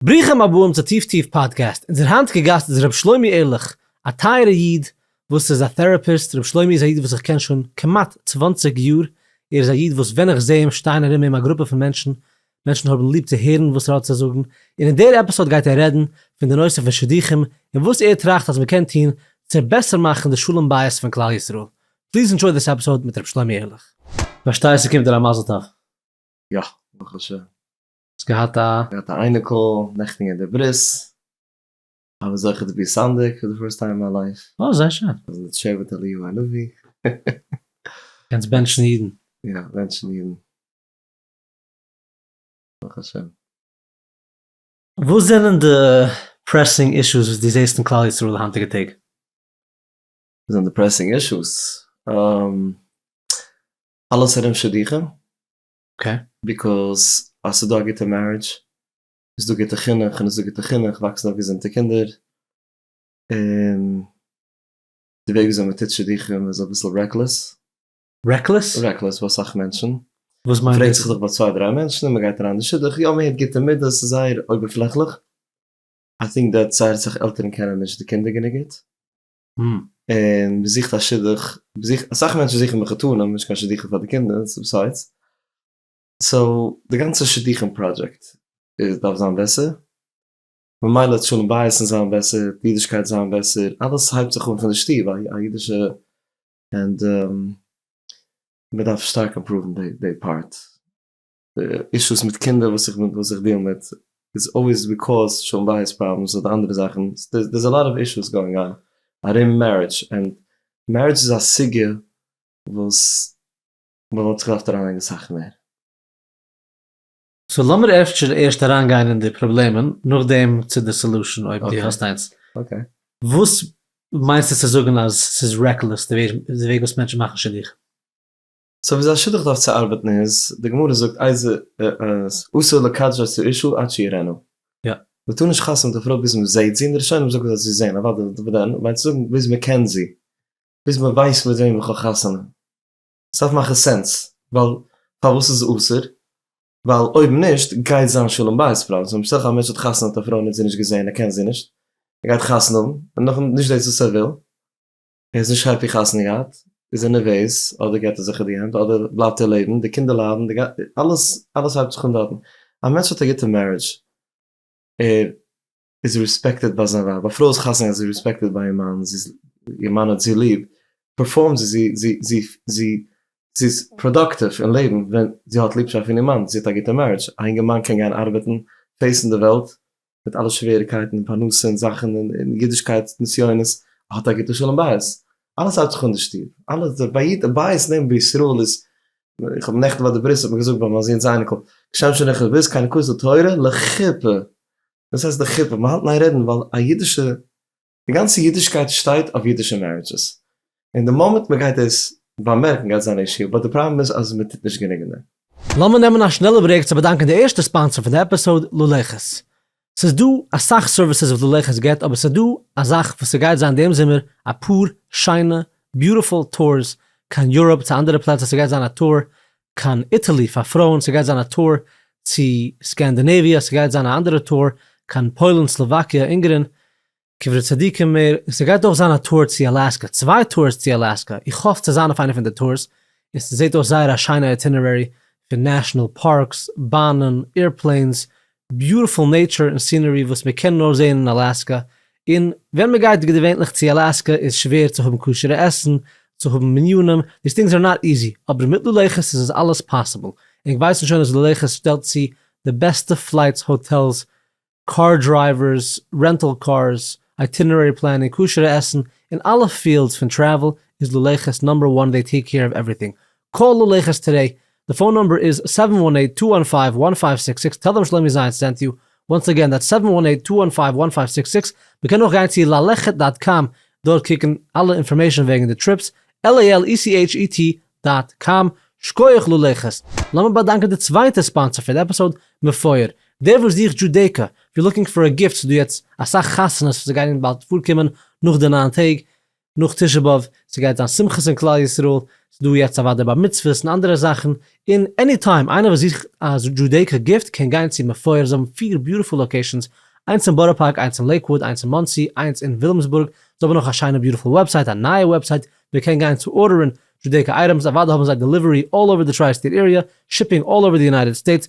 ברוכים הבאים צו טיף טיף פאדקעסט, אונזער היינטיגע גאסט איז ר' שלומי ערליך, א טייערע איד וואס איז א טעראפיסט, ר' שלומי איז א איד וואס איך קען שוין כמעט צוואַנציק יאר, ער איז א איד וואס ווען איך זע אים שטייען ארום אים א גרופע פון מענטשן, מענטשן האבן ליב צו הערן וואס ער האט צו זאגן, און אין דער עפיסאד גייט ער רעדן פון די נושא פון שידוכים און וואס ער טראכט אז מען קען טון צו בעסער מאכן די שלום בית פון כלל ישראל. פליז אינדשויד דיס עפיסאד מיט ר' שלומי ערליך. כ'פארשטיי ס'קומט דיר א מזל טוב. יא, ברוך השם. האסט געהאט א. געהאט א אייניקל נעכטן געהערט די ברית, האב זוכה צו בי סנדק פאר די פירסט טיים אין מיין לייף. אוי זייער שיין. און די שבט אליהו הנביא. קענסט בענטשן אידן. יא בענטשן אידן. ברוך השם. וואס זענען די פרעסינג אישוס וואס דו זעסט אין כלל ישראל די היינטיגע טעג? וואס זענען די פרעסינג אישוס? אלעס ארום שידוכים. אקעי. ביקאוז אז ס'איז דא א גוטע מערידזש איז דא גוטע חינוך און איז דא גוטע חינוך וואקסן אויף געזונטע קינדער און די וועג וויאזוי מ'טוט שידוכים איז אביסל רעקלעס. רעקלעס? רעקלעס ביי אסאך מענטשן. וואס מיינט דאס? מ'פרעגט זיך דאך ביי צוויי דריי מענטשן און מ'גייט אריין אין די שידוך, יא מ'הערט גוטע מידות ס'איז זייער אויבערפלעכליך, איי טינק דעט זייער אסאך עלטערן קענען נישט די קינדער גענוג גוט, ם. און זוכט א שידוך, זוכט, אסאך מענטשן זוכן מחותנים, נישט קיין שידוכים פאר די קינדער, ס'איז ביסיידס, סאו די גאנצע שידוכים פראדזשעקט איז דארף זיין בעסער, ממילא וועט שלום בית'ן זיין בעסער, אידישקייט זיין בעסער, אלעס הייבט זיך אן פון די שטוב, א אידישע, און די, מ'דארף שטארק אימפראוון די פארט. אישוס מיט קינדער וואס איך וואס איך דיעל מיט איז אלוועיס ביקאוז שלום בית פראבלעמס אדער אנדערע זאכן, דער איז א לאט אוו אישוס גאוינג אן ארום מערידזש, און מערידזש איז א סוגיא וואס מען וואלט זיך געדארפט אריינלייגן אסאך מער. סאו לאמיר אפשר ערשט אריינגיין אין די פראבלעמען נאכדעם צו די סעלושען אויב דו האסט איינס. וואס מיינסטו צו זאגן אז ס'איז רעקלעס די וועג וואס מענטשן מאכן שידוכים? סאו וויאזוי א שידוך דארף צו ארבעטן איז, די גמרא זאגט אסור לקדש את האישה עד שיראנה, מען טאר נישט חתונה מיט א פרוי ביז מען זעהט זי, און די ראשונים זאגן אז זי זעהן, אוודאי דארף מען זעהן, מיינסט זאגן ביז מען קען זי, ביז מען ווייסט מיט וועם איך האב חתונה, עס דארף מאכן סענס, ווייל פארוואס איז אסור? ווייל אויב נישט גייט זיין שלום בית פראבלעמס, ווען משא כ א מענטש האט חתונה מיט א פרוי און ער האט זי נישט געזעהן, ער קען זי נישט, ער גייט חתונה האבן, און נאכדעם נישט דאס וואס ער וויל. ער איז נישט העפי חתונה געהאט, איז ער נערוועז, אדער געט ער זיך אין די הענט, אדער בלייבט ער לעבן, די קינדער ליידן, די גאנ, אלעס, אלעס הייבט זיך אן דארטן. א מענטש האט א גוטע מערידזש, ער איז רעספעקטעד ביי זיין ווייב, א פרוי איז חתונה געהאט, זי איז רעספעקטעד ביי איר מאן, זי איז, איר מאן האט זי ליב, פערפארמט זי, זי, זי, זי, זי, זי איז פראדאקטיוו אין לעבן ווען זי האט ליבשאפט פון איר מאן, זי האט א גוטע מערידזש. א יונגערמאן קען גיין ארבעטן, פעיסן די וועלט, מיט אלע שוועריקייטן און פרנסה און זאכן און אידישקייט נסיונות, האט א גוטע שלום בית, אלעס האלט זיך אן די שטוב, אלעס דער בית בית נעבן בישראל איז, איך האב נעכטן ביי די ברית האט מען געזאגט ביי מיין זון'ס אייניקל, כשם שאין חובה איז קיין כוס התורה לחופה, וואס הייסט לחופה, מ'האלט ניין רעדן ווייל א אידישע. די גאנצע אידישקייט שטייט אויף אידישע מערידזשעס, און די מאמענט מען גייט דאס באמערקן גייט זיין א אישו, באט די פראבלעם איז אז מען טוט נישט גענוג אין דעם. לאמיר נעמען א שנעלע ברעיק צו באדאנקען די ערשטע ספאנסער פון די עפיסאוד לולעכעס. ס'איז דא אסאך סערוויסעס וואס לולעכעס גיבט אבער ס'איז דא א זאך וואס ס'גייט זיין דעם זומער אפאר שיינע ביוטיפול טורס קיין יוראפ צו אנדערע פלעצער ס'גייט זיין א טור קיין איטעלי פאר פרויען, ס'גייט זיין א טור צו סקענדינעוויע, ס'גייט זיין א אנדערע טור קיין פוילן, סלאוואקיע, אונגערין, קברי צדיקים מער, און ס'גייט אויך זיין א טור צו אלאסקע, צוויי טורס צו אלאסקע, איך האף צו זיין אויף איינע פון די טורס, און ס'זעט אויס זייער א שיינע איטינערערי פון נעשאנעל פארקס, באנען, עירפלעינס, ביוטיפול נעטשור און סינערי וואס מען קען נאר זעהן אין אלאסקא, און ווען מען גייט געווענליך צו אלאסקא איז שווער צו האבן כשר'ע עסן, צו האבן מניינים, דיס טינגס אר נאט איזי, אבער מיט לולייכעס איז עס אלעס פאסיבל, און כ'ווייס שוין אז לולייכעס שטעלט צו די בעסטע פלייטס, האטעלס, קאר דרייווערס, רענטל קארס, אייטינערערי פלענינג, כשר'ע עסן, אין אלע פיעלדס פון טרעוול איז לולייכעס נאמבער וואן דעי טעיק קעיר אוו עווריטינג, קול ללכת טודי, די פאון נומבער איז סעווען וואן עיט טו וואן פייוו וואן פייוו סיקס סיקס טעל דעם שלומי זיינס סענט יו, וואנס אגען דעטס סעווען וואן עיט טו וואן פייוו וואן פייוו סיקס סיקס, מ'קען אויך גיין צו ללכת דאט קאם דארט קוקן אלע אינפארמעישן וועגן די טריפס, LALECHET דאט קאם, שקויעך ללכת, לאמיר באדאנקען די צווייטע ספאנסער פון די עפיסאוד, מפואר, דער וואס זוכט דזשודעיקא, איף יו לוקינג פאר א גיפט ס'דא יעצט אסאך חתונות וואס זיי גייען באלד פארקומען נאך די ניין טעג, נאך תשעה באב, ס'גייט זיין שמחות אין כלל ישראל, ס'דא יעצט אוודאי בר מצוות און אנדערע זאכן, און עני טיים איינער וואס זוכט א דזשודעיקא גיפט קען גיין צו מפואר, זיי האבן פיר ביוטיפול לאקעישאנס, איינס אין בארא פארק, איינס אין לעיקוואוד, איינס אין מאנסי, איינס אין ווילימסבורג, זיי האבן נאך א שיינע ביוטיפול וועבסייט, א נייע וועבסייט, מען קען גיין צו ארדערן דזשודעיקא אייטעמס, אוודאי האבן זיי דעליווערי אלל אווער די טריי סטעיט עריע, שיפינג אלל אווער די יונייטעד סטעיטס,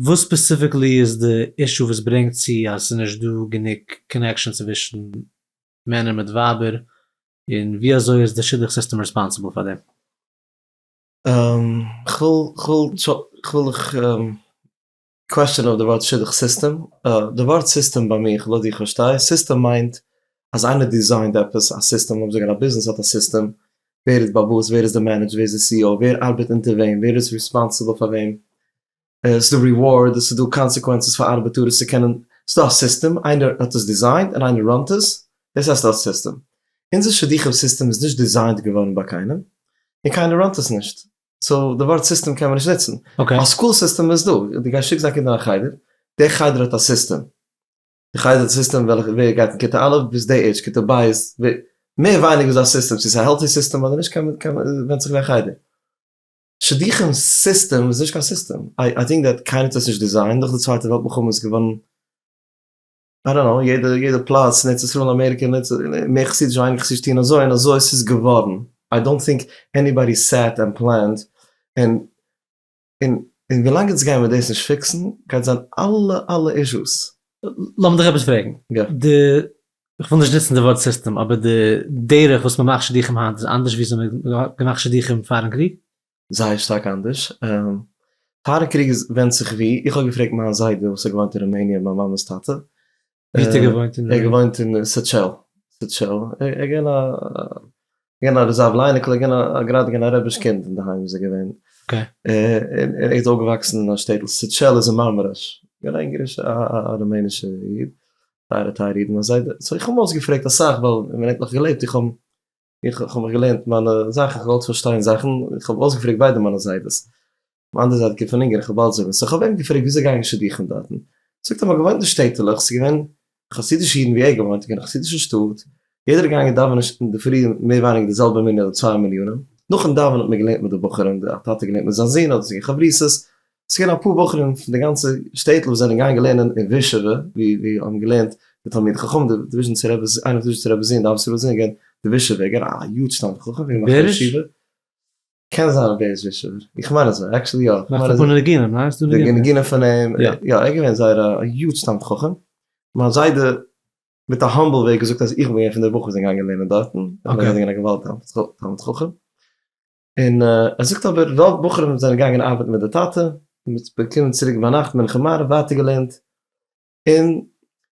וואס ספעסיפיקלי איז די אישו וואס ברענגט צו אז ס'איז נישט דא גענוג קאנעקשאן צווישן מענער מיט ווייבער, און ווי אזוי איז די שידוך סיסטעם רעספאנסיבל פאר דעם? כ'וויל איך קוועסטשען אויף די ווארט שידוך סיסטעם, די ווארט סיסטעם ביי מיך לויט ווי איך פארשטיי סיסטעם מיינט אז איינער דיזיינט עפעס א סיסטעם לאז זאגן א ביזנעס האט א סיסטעם ווער איז באוואס ווער איז די מענעדזש ווער איז די סי אי או ווער ארבעט אונטער וועם ווער איז רעספאנסיבל פאר וועם עס איז דא ריווארד, עס איז דא קאנסעקווענצעס פאר ארבעטאר עס צו קענען, ס'איז דא א סיסטעם, איינער האט עס דיזיינט און איינער ראנט עס, דאס הייסט א סיסטעם. אונזער שידוכים סיסטעם איז נישט דיזיינט געווארן ביי קיינעם, און קיינער ראנט עס נישט, סאו די ווארט סיסטעם קען מען נישט נוצן. א סקול סיסטעם איז דא, דו גייסט שיקסט דיין קינד אין א חדר, די חדר האט א סיסטעם, די חדר האט א סיסטעם וועלכע ווער גייט אין כיתה א' ביז די עידזש, כיתה ב' איז ווער, מער ווייניגער איז דא א סיסטעם, צו עס איז א העלטי סיסטעם אדער נישט קען מען, ווענדט זיך ווי א חדר. שידוכים סיסטעם איז נישט קיין סיסטעם, איי טינק דעט קיינער האט עס נישט דיזיינט, נאך די צווייטע וועלט מלחמה איז געווארן, איי דאנט קנאו, יעדע יעדע פלאץ אין ארץ ישראל און אמעריקע און ארץ, מער חסידיש און ווייניגער חסידיש טוען אזוי און אזוי עס איז געווארן, איי דאנט טינק עניבאדי סעט ענד פלענד, און און און ווילאנג אונז גייען מיר דאס נישט פיקסן גייט זיין אלע אלע אישוס. לאמיר דיך עפעס פרעגן, די איך וויל נישט נוצן די ווארט סיסטעם, אבער די דרך וואס מ'מאכט שידוכים היינט איז אנדערש וויאזוי מ'האט געמאכט שידוכים פארן קריג? זייער שטארק אנדערש. פארן קריג איז ווענדט זיך ווי, איך האב געפרעגט מיין זיידע וואס האט געוואוינט אין רומעניא, מיין מאמע'ס טאטע. ווי האט ער געוואוינט אין רומעניא? ער האט געוואוינט אין סעטשעל, סעטשעל, ער איז געווען א געווען א רעזערוו ליינער כ'האב געווען א גראדע געווען א רעביש קינד אינדערהיים איז ער געווען און ער איז אויפגעוואקסן אין א שטעטל סעטשעל איז אין מארמאראש געווען א אונגארישע א רומענישע איד טייערע טייערע אידן א זיידע סאו איך האב אים אויסגעפרעגט אסאך ווייל ווען ער האט נאך געלעבט איך האב איך האב מיך געלערנט מיינע זאכן איך האב געוואלט פארשטיין זאכן איך האב אויסגעפרעגט ביידע מיינע זיידעס מאנדע זייט גוט פון אונגער איך האב באלד זיבן סאו איך האב אים געפרעגט וויאזוי גייען שידוכים דארטן זאגט ער מ'האט געוואוינט אין שטעטעלעך ס'איז געווען חסידישע אידן ווי ער האט געוואוינט און קיין חסידישע שטאט יעדער איז געגאנגען דאווענען אינדערפרי מער ווייניגער די זעלבע מנין אדער צוויי מנינים נאכן דאווענען האט מען געלערנט מיט די בחורים די א טאטע האט געלערנט מיט זיין זון אדער ס'געווען חברותות ס'געווען אפאר בחורים פון די גאנצע שטעטל וואס זענען געגאנגען לערנען אין ווישעווע ווי ווי האבן געלערנט די תלמידי חכמים די וויזשניצער רבי ז ל איינער פון וויזשניצער רבי ז ל די ווישעווער געגענט די ווישעווער געגענט א יוד שטאנד חכם ווי א בחור ישיבה. קען זיין אז דער איז ווישעווער, איך מיין אז יא, עקשעלי יא, איך מיין אז יא, די ניגונים פון אים, יא, ער איז געווען זייער א יוטש תלמיד חכם, מיין זיידע מיט א האמבל וועג געזאגט אז איך בין געווען פון די בחורים וואס זענען געגאנגען לערנען דארטן, ער איז געווען א געוואלדיגע תלמיד חכם, און ער זאגט אבער רוב בחורים זענען געגאנגען ארבעטן מיט די טאטע, און מ'איז געקומען צוריק ביינאכט מנחה מעריב ווייטער געלערנט, און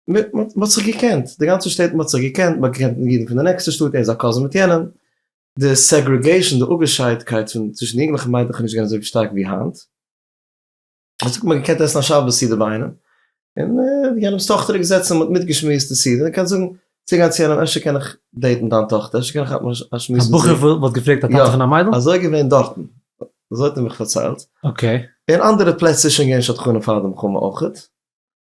מ'האט זיך געקענט, די גאנצע שטעטל האט זיך געקענט, מ'האט געקענט ניגונים פון די נעקסטע שטאט, ער איז א קאזין מיט יענעם, די סעגרעגעישאן, די אפגעשיידטקייט צווישן יונגלעך און מיידלעך איז נישט געווען אזוי שטארק ווי היינט. דאס האט מען געקענט עסן א שבת סעודה ביי איינעם, און יענעמ'ס טאכטער איז געזעצן און מען האט מיטגעשמועסט די סעודה, מען קען זאגן צוגיין צו יענעם אפשר קען איך דעיטן דיין טאכטער, אפשר קען איך כאפן א שמועס מיט זי. א בחור וואלט געפרעגט א טאטע פון א מיידל? יא, אזוי איז געווען דארטן, אזוי האט ער מיך פארציילט. אקעי. אין אנדערע פלעצער איז שוין געווען שדכנים פאר די מלחמה אויך.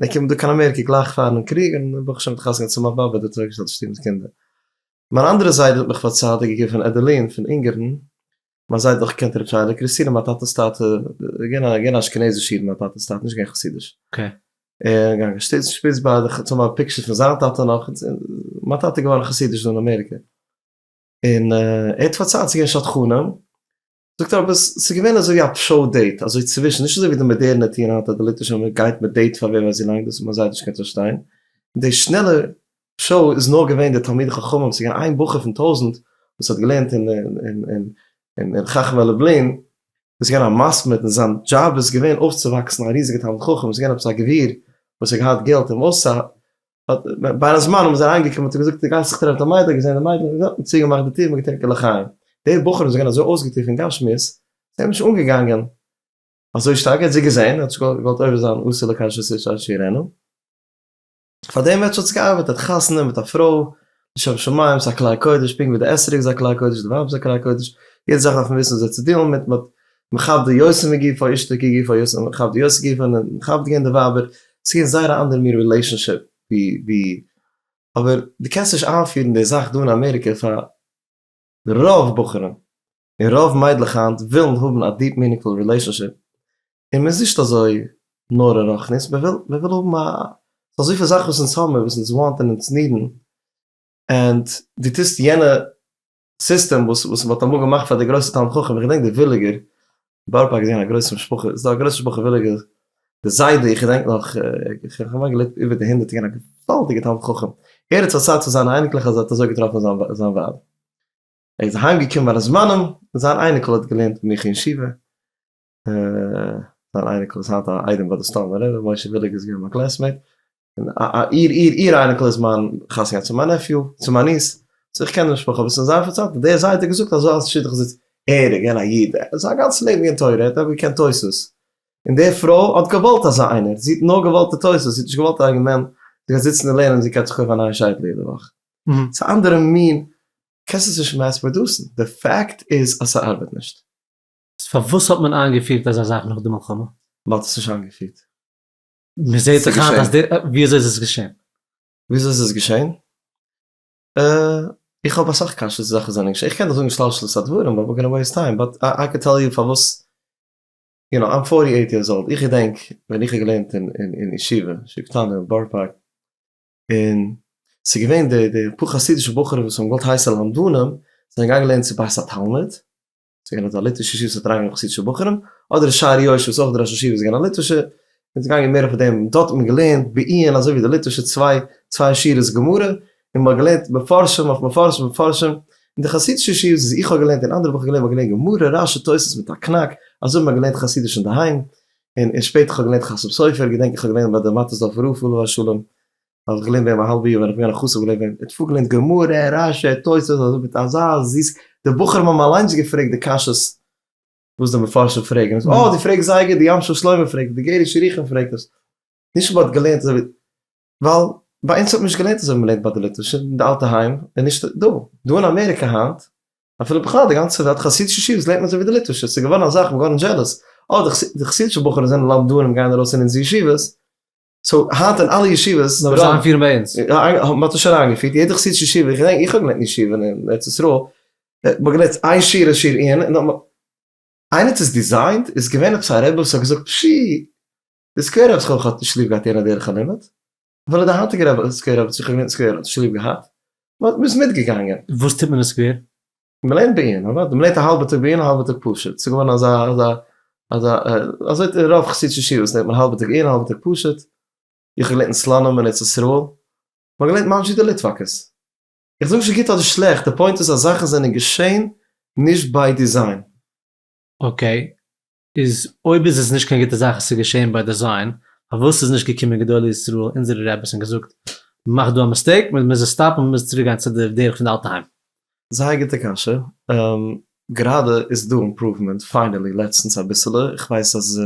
און ער קומט דא קיין אמעריקע גלייך פארן קריג און ברוך השם האט חתונה געהאט צו מיין באבע דארט אויף געשטעלט די שטיבער'ס קינדער. מיין אנדערע זיידע האט מיך פארציילט די געגעבען פון עדעלין פון אונגערן, מיין זיידע האט אויך געקענט רבי שיילע קריסטינער מיין טאטע'ס טאטע איז געווען א געווען א אשכנזיש איד מיין טאטע'ס טאטע נישט געווען חסידיש און געגאנגען שטיצן שפיץ ביי די חתונה האט פיקשערס פון זיין טאטע נאך מיין טאטע איז געווארן חסידיש דא אין אמעריקע און ער האט פארציילט ס'איז געווען שדכנים. זאגט ער אבער ס'איז געווען אזוי ווי א פשעו דעיט אזוי צווישן נישט אזוי ווי די מאדערנע טוען היינט אז די ליטווישע מאמע גייט מיט דעיט פאר ווער ווייס ווי לאנג דאס האט מען זייער נישט געקענט פארשטיין און די שנעלע פשעו איז נאר געווען די תלמידי חכמים ס'איז געווען איין בחור פון טויזנט וואס האט געלערנט אין אין אין אין חכמי לובלין איז געווען א מסמד און זיין דזשאב איז געווען אויפצווואקסן א ריזיגע תלמיד חכם איז געווען עפעס א גביר וואס האט געהאט געלט אין ווארסא ביי א זמן האבן זיי אריינגעקומען האט ער געזאגט די גאנצע צו טרעפן א מיידל געזען די מיידל און געזאגט צוגעמאכט די טיר מגעטרינקען לחיים די בחורים זענען אזוי אויסגעטריקענט גיין שמועס זיי האבן נישט אנגעגאנגען אזוי שטארק ער האט זיי געזען ער האט געוואלט עובר זיין אסור לקדש את אשת עירנו פאר דעם וועט שוין האט עס געארבעט ער האט חתונה מיט א פרוי שם שמים איז א כלי קודש, פונקט ווי די אתרוג איז א כלי קודש, די ווייב איז א כלי קודש, יעדע זאך דארף מען וויסן וויאזוי צו דילן מיט, מ'האט מכבד די יועצים מגופא אשתו כגופא יועצים האבן מכבד די יועצים גופא און מכבד געווען די ווייבער, עס איז געווען זייער א אנדער מין רילעישאנשיפ ווי ווי, אבער דו קענסט נישט איינפירן די זאך דא אין אמעריקע פאר רוב בחורים, און רוב מיידלעך היינט ווילן האבן א דיעפ מינינגפול רילעישאנשיפ, און מען איז נישט אזוי נורא רוחנית, מען וויל מען וויל האבן א, ס'איז דא אזויפיל זאכן וואס אונז האבן און וואס אונז וואנט און אונז נידן, און דו טוסט יענע סיסטעם וואס וואס מען האט אמאל געמאכט פאר די גרויסע תלמיד חכם, איך געדענק די וויליגער, בארא פארק איז געווען א גרויסע משפחה, איז דא א גרויסע משפחה וויליגער, די זיידע איך געדענק נאך, כמעט געלעבט איבער די הונדערט, געווען א געוואלדיגע תלמיד חכם, ער האט פארציילט פאר זיינע אייניקלעך אז ער האט אזוי געטראפן זיין ווייב. ער איז אהיים געקומען ביי די זמנים, זיין אייניקל האט געלערנט מיט מיך אין ישיבה, זיין אייניקל איז היינט א איידעם ביי די סטאמבער רבי, משה וויליג איז געווען מיין קלעסמעיט, און איר איר איר אייניקל איז מיין חתן געווען צו מיין נעפיו, צו מיין ניס, סאו איך קען די משפחה אביסל, זיי האבן פארציילט אז דער זיידע האט געזאגט אז אלס שידוך זיץ ער איז געווען א איד, ער האט זיין גאנצע לעבן געקענט תורה, ער האט אויך געקענט תוס', און די פרוי האט געוואלט אזא איינער, זי האט נאר געוואלט די תוס', זי האט נישט געוואלט א יונגערמאן, זי גייט זיצן און לערנען און זי קויפט זיך אויף א נייע שייטל יעדע וואך, ס'איז א אנדערע מין קענסט עס נישט מעס פראדוסן, די פעקט איז אז ס'ארבעט נישט. איז פארוואס האט מען איינגעפירט אזא זאך נאך די מלחמה? מען האט עס נישט איינגעפירט. מ'זעהט דאך היינט אז די. וויאזוי איז עס געשען? וויאזוי איז עס געשען? איך האב אסאך קשיות ווי זאכן זענען געשען, איך קען דאך זאגן שלשלת הדברים באט ווער גאנא וועיסט טיים, באט איי קען טעל יו פארוואס, יו נאו איים פארטי עיט יערס אולד, איך געדענק ווען איך האב געלערנט אין ישיבה, ישיבה קטנה אין בארא פארק, און ס'איז געווען די די פאר חסידישע בחורים וואס האבן געוואלט הייסע למדנים זענען געגאנגען לערנען צו בית התלמוד, ס'איז געווען אזא ליטווישע ישיבה וואס האט אריינגענומען חסידישע בחורים, אדער שער יושר וואס אויך די ראש ישיבה איז געווען א ליטווישער, מ'איז געגאנגען מער אויף דעם, דארט האט מען געלערנט בעיון אזוי ווי די ליטווישע צוויי צוויי שורות גמרא, און מ'האט געלערנט מפרשים אויף מפרשים אויף מפרשים, און די חסידישע ישיבות וואס איך האב געלערנט און אנדערע וואס איך האב געלערנט, מ'האט געלערנט גמרא רש י תוס' מיט א קנאק, אזוי ווי מ'האט געלערנט חסידיש אינדערהיים, און און שפעטער כ'האב געלערנט חסם סופר געדענק איך האב געלערנט ביי די מאטעסדארפער רב עליו השלום האב איך געלערנט ביי אים א האלבע יאר ווען איך בין געווען א חסיד האב איך געלערנט ביי אים תפא געלערנט גמרא רשי תוספות אזוי מיט אזא זיס די בחורים האבן אליינס געפרעגט די קשיות וואס די מפרשים פרעגן עס אה די פרעגסט זייער גוט די ים של שלמה פרעגט עס די גער ישריחם פרעגט עס נישט וויל מען האט געלערנט אזוי ווי ווייל ביי אונז האט מען נישט געלערנט אזוי ווי מ'לערנט ביי די ליטווישע אין די אלטע היים און נישט דא. דא אין אמעריקע היינט, אפילו בכלל די גאנצע וועלט, חסידישע ישיבות לערנט מען אזוי ווי די ליטווישע, ס'איז געווארן אזאך כ'בין גארנישט זשעלעס, אה די די חסידישע בחורים זענען למדנים גייען ארויס אין אונזערע ישיבות, סאו היינט אין אלע ישיבות, נאר זיי איינפירן ביי אונז. האבן מ'האט עס שוין איינגעפירט, יעדע חסידישע ישיבה, איך געדענק איך האב געלערנט אין ישיבה אין ארץ ישראל, האט מען געלערנט איין שיעור א שיעור עיון און נאכמאל, איינער האט עס דיזיינט? איז געווען עפעס א רבי וואס האט געזאגט, פשי! די סקווערע האב איך אויך האט נישט ליב געהאט אין א דרך הלימוד, אפילו די היינטיגע רב סקווערע האב זיכער געווען סקווערע האט נישט ליב געהאט, מ'האט מ'איז מיטגעגאנגען. וואס טוט מען אין סקווער? מ'לערנט בעיון, אוודאי, מ'לערנט א האלבע טאג בעיון א האלבע טאג פשוט, ס'איז געווארן אזא אזא אזא אזוי אין רוב חסידישע ישיבות לערנט מען א האלבע טאג עיון א האלבע טאג פשוט, איך האב געלערנט אין סלאנים אין ארץ ישראל, מ'האט געלערנט ממש ווי די ליטוואקעס. איך זאג נישט גוט אדער שלעכט, די פוינט איז אז זאכן זענען געשען נישט ביי דיזיין. אקעי, איז אויב איז עס נישט קיין גוטע זאך עס איז געשעהן ביי דעזיין, פארוואס איז נישט געקומען גדולי ישראל אונזערע רעביס און געזאגט מ'מאכט דא א מיסטעיק מען מוז עס סטאפן מען מוז צוריק גיין צו די דרך פון די אלטע היים. זייער גוטע קשיא, גראדע איז דא אימפראוומענט פיינעלי לעצטנס אביסעלע, איך ווייס אז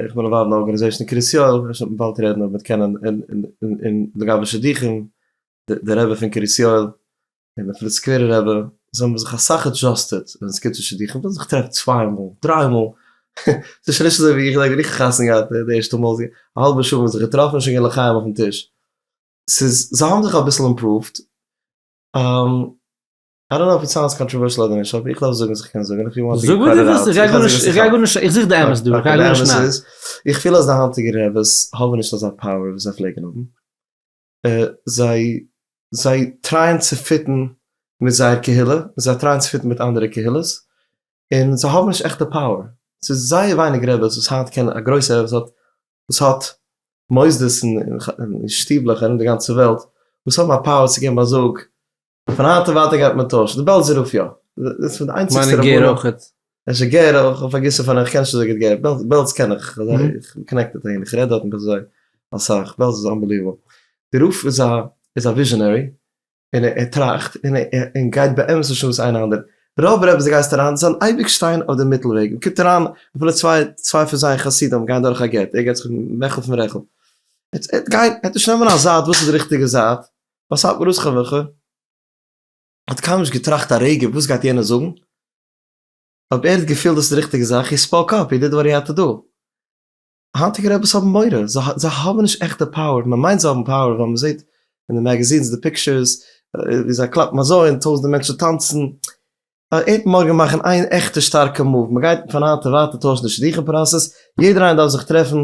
איך בין אינוואלווד אין א ארגאניזעישן אין קרית יואל, אפשר וועט מען באלד רעדן אויב מ'וועט קענען און לגבי שידוכים, די רבי פון קרית יואל און אפילו סקווערע רבי זיי האבן זיך אסאך עדזשאסטעד ווען עס קומט צו שידוכים ווען זיך טרעפט צוויי מאל דריי מאל ס'איז שוין נישט אזוי ווי איך דענק ווען איך האב חתונה געהאט די ערשטע מאל איז א האלבע שעה מ'האט זיך געטראפן שוין געווען לחיים אויפן טיש ס'איז זיי האבן זיך אביסל אימפראווט איי דאנט נאו אויב סאונדס קאנטראווערשל אדער נישט אבער איך דארף זאגן וואס איך קען זאגן זאג וואס דו ווילסט איך גיי גארנישט איך גיי גארנישט איך זוך די אמת דא איך גיי גארנישט איך פיל אז די היינטיגע רעבעס האבן נישט אזא פאוער ווי זיי פלעגן האבן. זיי זיי טרייען צו פיטן מיט זייער קהילה, זיי טרייען צו פיטן מיט אנדערע קהילות, און זיי האבן נישט עכטע פאוער, ס'איז זייער ווייניג רעבעס וואס היינט קען א גרויסע רבי וואס וואס האט מוסדות און שטיבלעך ארום די גאנצע וועלט וואס האבן א פאוער צו געבן א זאג פון היינט און ווייטער גייט מען טוישן די בעלזער רוף יא דאס פון די איינציגסטע רבנים. מיינע גער אויכעט. עס איז גער אויך איך פארגעסן פאר איך קען נישט אזוי גוט גער בעלז קען איך איך בין קאנעקטעד אהין איך רעד דארט נישט אזוי אסאך בעלז איז אנבעליוועבל די רוף איז א איז א וויזשענערי און ער טראכט און און גייט באמת נישט אן וואס איינער אנדערע רוב רעבעס די גייסט אריין זיי וועלן אייביג שטיין אויף די מיטל וועג מ'קומט אריין אפילו צוויי צוויי פון זייער חסידים גייען דורך א גט ער געט זיך מעכל פון רעכל ער ער גייט ער עט נישט נעמען א זייט וואס איז די ריכטיגע זייט וואס האלט מען אויס ח ו ח ו? האט קיינמאל נישט געטראכט א רגע וואס גייט יענער זאגן, אויב ער האט געפילט דאס איז די ריכטיגע זאך, הי ספאוק אפ, הי דיד וואט הי האט טו דו. היינטיגע רעבעס האבן מורא, זיי האבן נישט עכט די פאוער, מען מיינט זיי האבן פאוער ווייל מען זעט אין די מעגעזינס די פיקטשערס ווי זיי קלאפן אזוי און טויזענטע מענטשן טאנצן, היינט מארגן מאכן איין עכטע שטארקע מאוו, מען גייט פון היינט און ווייטער טוישן די שידוכים פראסעס, יעדער איינער דארף זיך טרעפן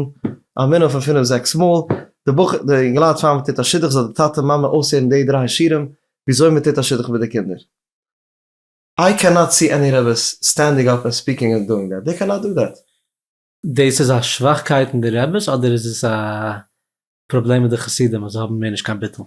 א מנין פון פינף זעקס מאל, די בחור די אינגעלייט פאר מען טוט א שידוך זאל די טאטע מאמע אויסהערן די דריי שיעורים וויאזוי מען טוט א שידוך מיט די קינדער. איי קען נאט סי עני רעבעס סטענדינג אפ ענד ספיקינג ענד דואינג דעט, דעי קען נאט דא דעט. דאס איז א שוואכקייט אין די רעבעס אדער איז עס א פראבלעם מיט די חסידים אז זיי האבן מער נישט קיין ביטול?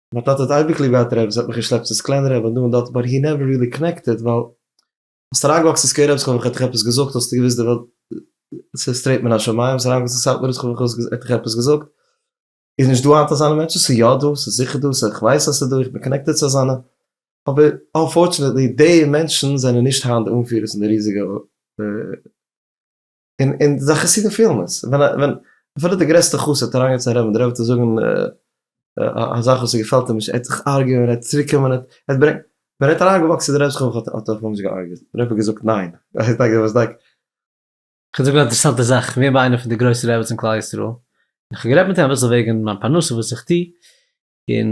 מיין טאטע האט אייביג ליב געהאט רעפ, עס האט מיך געשלעפט צו סקלענע רעפ און דא און דארט באט הי נעווער ריעלי קאנעקטעד ווייל ביסט אריינגעוואקסן אין סקווער רעפ ס'קען ווען כ'העט דיך עפעס געזאגט האסטו געוויסט די וועלט איז סטרעיט מן השמיים ביסט אריינגעוואקסן אין סאטמאר האסטו געוואוסט כ'וואלט העט דיך עפעס געזאגט איז נישט דא היינט אזאנע מענטשן ס'איז יא דא ס'איז זיכער דא ס'איז כ'ווייס אז ס'איז דא איך בין קאנעקטעד צו אזאנע אבער אנפארטשענעטלי די מענטשן זענען נישט היינט די אנפירערס אין די ריזיגע און און די חסידים פילן עס, ווען א ווען אפילו די גרעסטע חסיד האט אריינגעצויגן א רב און דער רב וועט אים זאגן א זאך וואס עס געפעלט אים נישט, ער וועט זיך ארגעווען, ער וועט צוריק קומען, ער וועט ברענגען, ווען ער האט אריינגעוואקסן די רב זיך האט ער זיך נישט געארגעט, דער רב האט געזאגט ניין, ער איז דאגהער וואס דאגהער. כ'וועל זאגן א אינטערעסאנטע זאך, כ'בין ביי איינער פון די גרויסע רעבעס אין כלל ישראל, און כ'האב גערעדט מיט אים אביסל וועגן מיין פרנסה וואס איך טוה, און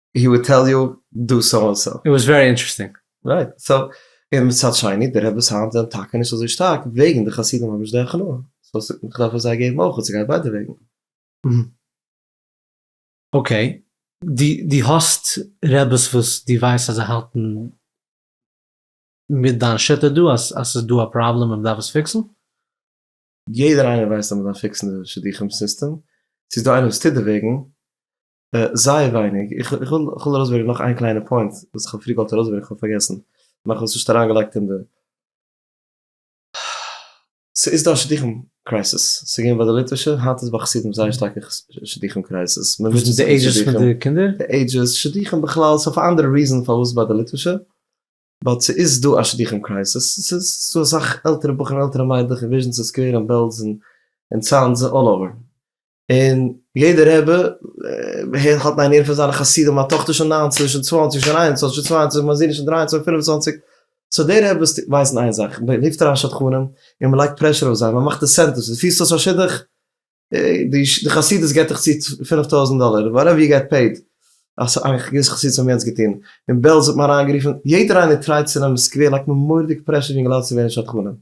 הי וואלד טעל יו דו סאו אנד סאו. איט וואס ווערי אינטערעסטינג. רייט, סאו, און מצד שני, די רעבעס היינט זענען טאקע נישט אזוי שטארק וועגן די חסידים האבן נישט די הכנעה, סאו כ'דארף עס זיי געבן אויך און ס'גייט ביידע וועגן. אקעי, דו האסט רעבעס וואס דו ווייסט אז זיי האלטן מיט דיין שיטה דא אז ס'איז דא א פראבלעם און מ'דארף עס פיקסן? יעדער איינער ווייסט אז מ'דארף פיקסן די שידוכים סיסטעם, צו ס'איז דא איינער וואס טוט דערוועגן, זייער ווייניג, איך וויל ארויסברענגען נאך איין קליינע פוינט וואס איך האב פריער געוואלט ארויסברענגען, איך האב פארגעסן, מאך עס נישט אריינגעלייגט אין די. ס'איז דא א שידוכים קרייזיס, ס'איז געווען ביי די ליטווישע, היינט איז ביי חסידים זייער שטארקע שידוכים קרייזיס, מען מוטשעט זיך מיט שידוכים, די קינדער, די עידזשעס, שידוכים בכלל, ס'איז אויף א אנדערע ריזען פארוואס ביי די ליטווישע, באט ס'איז דא א שידוכים קרייזיס, ס'איז דא אסאך עלטערע בחורים, עלטערע מיידלעך אין וויזשניץ אין סקווער אין בעלז אין צאנז, אלל אווער, און יעדער רבי הערט האט איינער פון זיינע חסידים א טאכטער שוין ניינצן שוין צוואנציג שוין איין און צוואנציג שוין צוויי און צוואנציג מיין זון איז שוין דריי און צוואנציג פינף און צוואנציג סאו די רביס ווייסן איין זאך מען רופט אריין שדכנים און מען לייגט פרעשור אויף זיי מען מאכט אינסענטיווס ווען דו פירסט אויס א שידוך די חסידות געט דיך צו פינף טויזנט דאלער וואטעווער יו געט פעיד אז א געוויסע חסידות האבן יענץ געטון און בעלז האט מען אריינגערופן יעדער איינער טרייט צו נעמען סקווער לייגט מען מורא'דיג פרעשור יונגעלייט צו ווערן שדכנים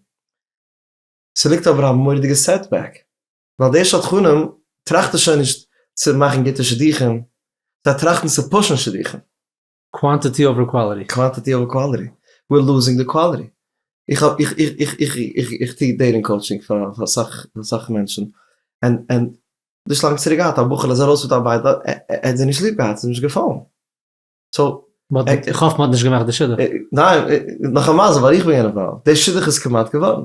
ס'ליגט אבער א מורא'דיגע סעטבעק. ווייל די שדכנים טראכטן שוין נישט צו מאכן גוטע שידוכים, זיי טראכטן צו פושן שידוכים. קוואנטיטי אווער קוואליטי. קוואנטיטי אווער קוואליטי, וויר לוזינג די קוואליטי. איך האב, איך, איך, איך, איך, איך, איך טו דעיטינג קאוטשינג פאר אסאך, אסאך מענטשן, און, און, נישט לאנג צוריק געהאט א בחור'ל איז ארויס מיט א בייטל, ער, ער, ער האט זי נישט ליב געהאט, ס'איז נישט געפאלן, סאו. איך האף מ'האט נישט געמאכט די שידוך. ניין, נאך א מזל ווייל איך בין געווען אינוואלווד, די שידוך איז כמעט געווארן,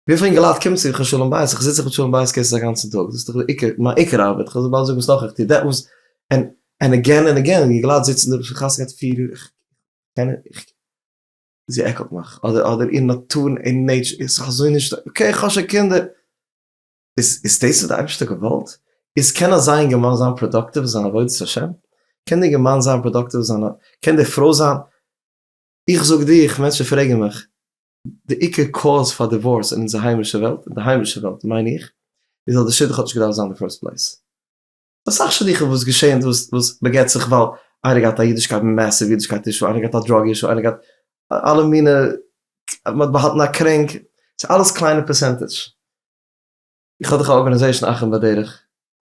וויפיל אינגעלייט קומט צו כ'האב שלום בית, כ'זיץ זיך מיט שלום בית קעיסעס א גאנצן טאג, דאס איז דאך די עיקר, מיין עיקר ארבעט, כ'וועל באלד זאגן וואס נאך איך טו, דעט וואס ענד ענד עגעין ענד עגעין, אינגעלייט זיצן דא פון חתונה גייט פֿיר יאר, כ'קען נישט, זי עקלט מיך, אדער אדער איר נאטור און נעיטשור איז זיך אזוי נישט, אקעי כ'האב שוין קינדער, איז איז דאס וואס די אייבערשטער האט געוואלט? איז קען אזא אינגערמאן זיין פראדאקטיוו אין זיין עבודת השם? קען די אינגערמאן זיין פראדאקטיוו אין זיין, קען די פרוי זיין, איך זאג דיר, איך מענטשן פרעגן מיך, די עיקר קאוז פאר דיווארס אין אונזער היימישע וועלט, אין די היימישע וועלט מיין איך, איז אז די שידוך האט נישט געדארפט זיין אין די פירסט פלעיס. אסאך שידוכים וואס געשען וואס בעגעט זיך ווייל איינער געהאט א אידישקייט מעסיוו אידישקייט אישו, איינער געהאט א דראג אישו, איינער געהאט אלע מינע, מען האט באהאלטן א קרענק, ס'איז אלעס קליינע פערסענטעדזש. איך האב דאך א ארגאניזעישאן אחים בדרך.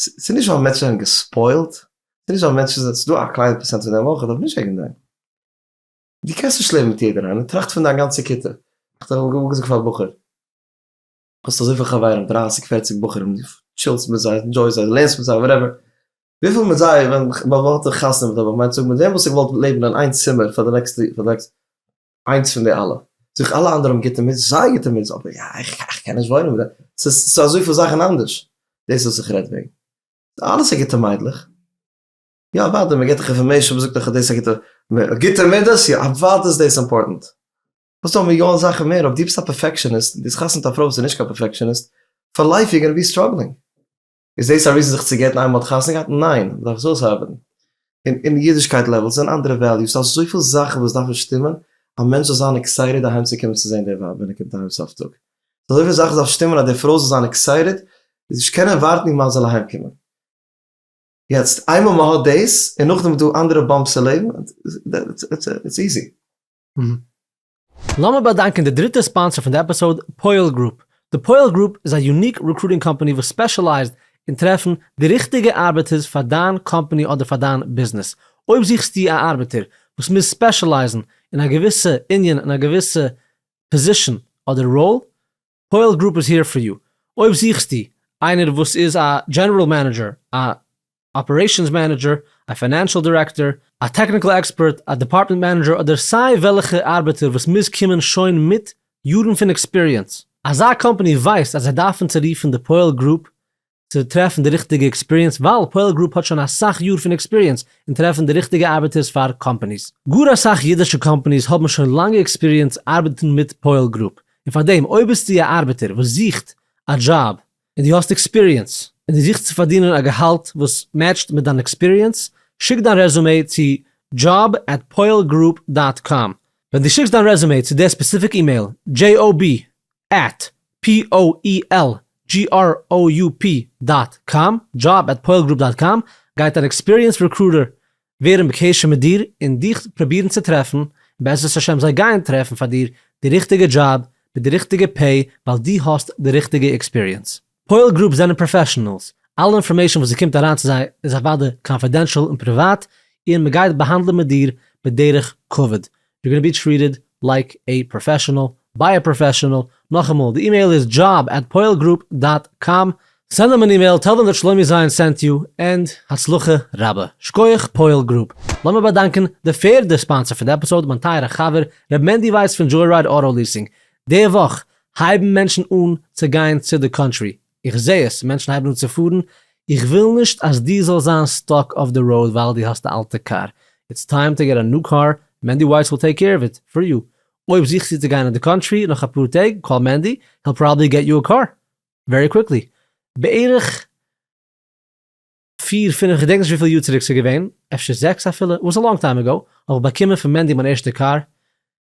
ס'איז נישט ווייל מענטשן זענען געספוילט, ס'איז נישט ווייל מענטשן זענען, ס'איז דא א קליינע פראצענט פון די מח וואס דארף נישט עגענט זיין. דו קענסט נישט לעבן מיט יעדער איינער, טראכט פון דיין גאנצע כיתה, איך האב אמאל געזאגט פאר א בחור, האסט אזויפיל חברים, דרייסיג פערציג בחורים, דו טשילסט מיט זיי, ענדזשויסט זיי, לערנסט מיט זיי, וואטעווער, וויפיל מיט זיי, ווען איך, ווען איך וואלט דיך חתונה מיט דיך, וואלט איך געמיינט, זאג מיט וועם וואלסטו געוואלט לעבן אין איין צימער פאר די נעקסטע, פאר די נעקסטע. איינס פון די אלע, זיך אלע אנדערע האבן גוטע מידות, זייער גוטע מידות, אבער יא, איך קען נישט וואוינען מיט דעם, ס'איז אזויפיל זאכן אנדערש, דאס וואס איך רעד וועגן, אלעס א גוטע מיידלעך, יא אוודאי מען געבט דאך אינפארמעישן, מען זאגט דאך אז דאס איז א גוטע, גוטע מידות, יא אוודאי איז דאס אימפארטענט, וואס טוען מיליאן זאכן מער, אויב דו ביסט א פערפעקשעניסט, און דו האסט חתונה מיט א פרוי וואס איז נישט קיין פערפעקשעניסט, פאר לייף יור גאנא בי סטראגלינג. איז דאס א ריזן זיך צו גט'ן איינמאל מ'האט חתונה געהאט? ניין, מ'דארף עס אויסהאבען. און אין אידישקייט לעוועלס זענען אנדערע וועליוס, ס'דא אזויפיל זאכען וואס דארפען שטימען א מענטש זאל זיין עקסייטעד אהיים צו קומען צו זעהן די ווייב ווען ער קומט אהיים סוף טאג. ס'דא אזויפיל זאכען דארף שטימען אז די פרוי זאל זיין עקסייטעד און נישט קענען ווארטן איר מאן זאל אהיים קומען. יעצט, איינמאל מ'האט דאס, און נאכדעם איז דא אנדערע באמפס אין לעבן, איטס איזי. לאמיר באדאנקען די דריטע ספאנסער פון די עפיסאוד, פויעל גרופ. די פויעל גרופ איז א יוניק רעקרוטינג קאמפאני וואס ספעשעלייזד אין טרעפן די ריכטיגע ארבעטערס פאר דיין קאמפאני אדער פאר דיין ביזנעס. אויב זוכסטו א ארבעטער וואס מוז ספעשעלייזן אין א געוויסע ענין, אין א געוויסע פאזישאן אדער ראל, קהל גרופ איז העיר פאר יו. אויב זוכסטו איינער וואס איז א דזשענערל מענעדזשער, א אפערעישאנס מענעדזשער, א פיינענשאל דירעקטאר, א טעקניקל עקספערט, א דעפארטמענט מענעדזשער אדער סיי וועלכע ארבעטער וואס מוז קומען שוין מיט יארן פון עקספיריענס. אזא קאמפאני ווייסט אז זיי דארפן צורופן די קהל גרופ צו טרעפן די ריכטיגע עקספיריענס ווייל פועל גרופ האט שוין אסאך יאר פון עקספיריענס אין טרעפן די ריכטיגע ארבעטערס פאר קאמפאניס. גאר אסאך אידישע קאמפאניס האבן שוין לאנגע עקספיריענס ארבעטן מיט פועל גרופ, און פארדעם אויב ביסטו א ארבעטער וואס זוכט א דזשאב און דו האסט עקספיריענס און דו זוכסט צו פארדינען א געהאלט וואס מעטשט מיט דיין עקספיריענס, שיק דיין רעזומעי צו דזשאב עט פועל גרופ דאט קאם. ווען דו שיקסט דיין רעזומעי צו די ספעסיפיק אימעיל, דזשי או בי עט poelgroup דאט קאם, דזשאב עט poelgroup דאט קאם, גייט אן עקספיריענס רעקרוטער ווערן אין קשר מיט דיר און דיך פרובירן צו טרעפן, און בעזרת השם זיי גייען טרעפן פאר דיר די ריכטיגע דזשאב מיט די ריכטיגע פעי ווייל דו האסט די ריכטיגע עקספיריענס. poelgroup זענען פראפעשענעלס, אלע אינפארמעישן וואס ס'קומט אריין צו זיי איז אוודאי קאנפידענשאל און פריוואט, און מ'גייט באהאנדלען מיט דיר בדרך כבוד, יו גאנא בי טריעטעד לייק עי פראפעשענעל ביי א פראפעשענעל, נאכאמאל די אימעיל איז דזשאב עט פועל גרופ דאט קאם, סענד דעם אן אימעיל טעל דעם דאט שלומי זיין סענט יו, ענד הצלחה רבה. שקויעך פועל גרופ. לאמיר באדאנקען די פערדע ספאנסער פון די עפיסאוד מיין טייערע חבר ר' מענדי ווייס פון דזשוי רייד אוטא ליסינג. די וואך הייבן מענטשן אן צו גיין צו די קאנטרי איך זעה עס, מענטשן הייבן אן צו פארן, איך וויל נישט אז דו זאלסט זיין סטאק אויף די ראוד ווייל דו האסט א אלטע קאר, איטס טיים טו געט א ניו קאר, מענדי ווייס וויל טעיק קעיר אוו איט פאר יו, אויב זוכסטו צו גיין אין די קאנטרי נאך אפאר טעג, קאל מענדי, היל פראבעבלי געט יו א קאר ווערי קוויקלי, בערך פיר פינעף כ'געדענק נישט וויפיל יאר צוריק ס'איז געווען, אפשר זעקס אפילו, איט וואס א לאנג טיים עגאו, האב איך באקומען פון מענדי מיין ערשטע קאר,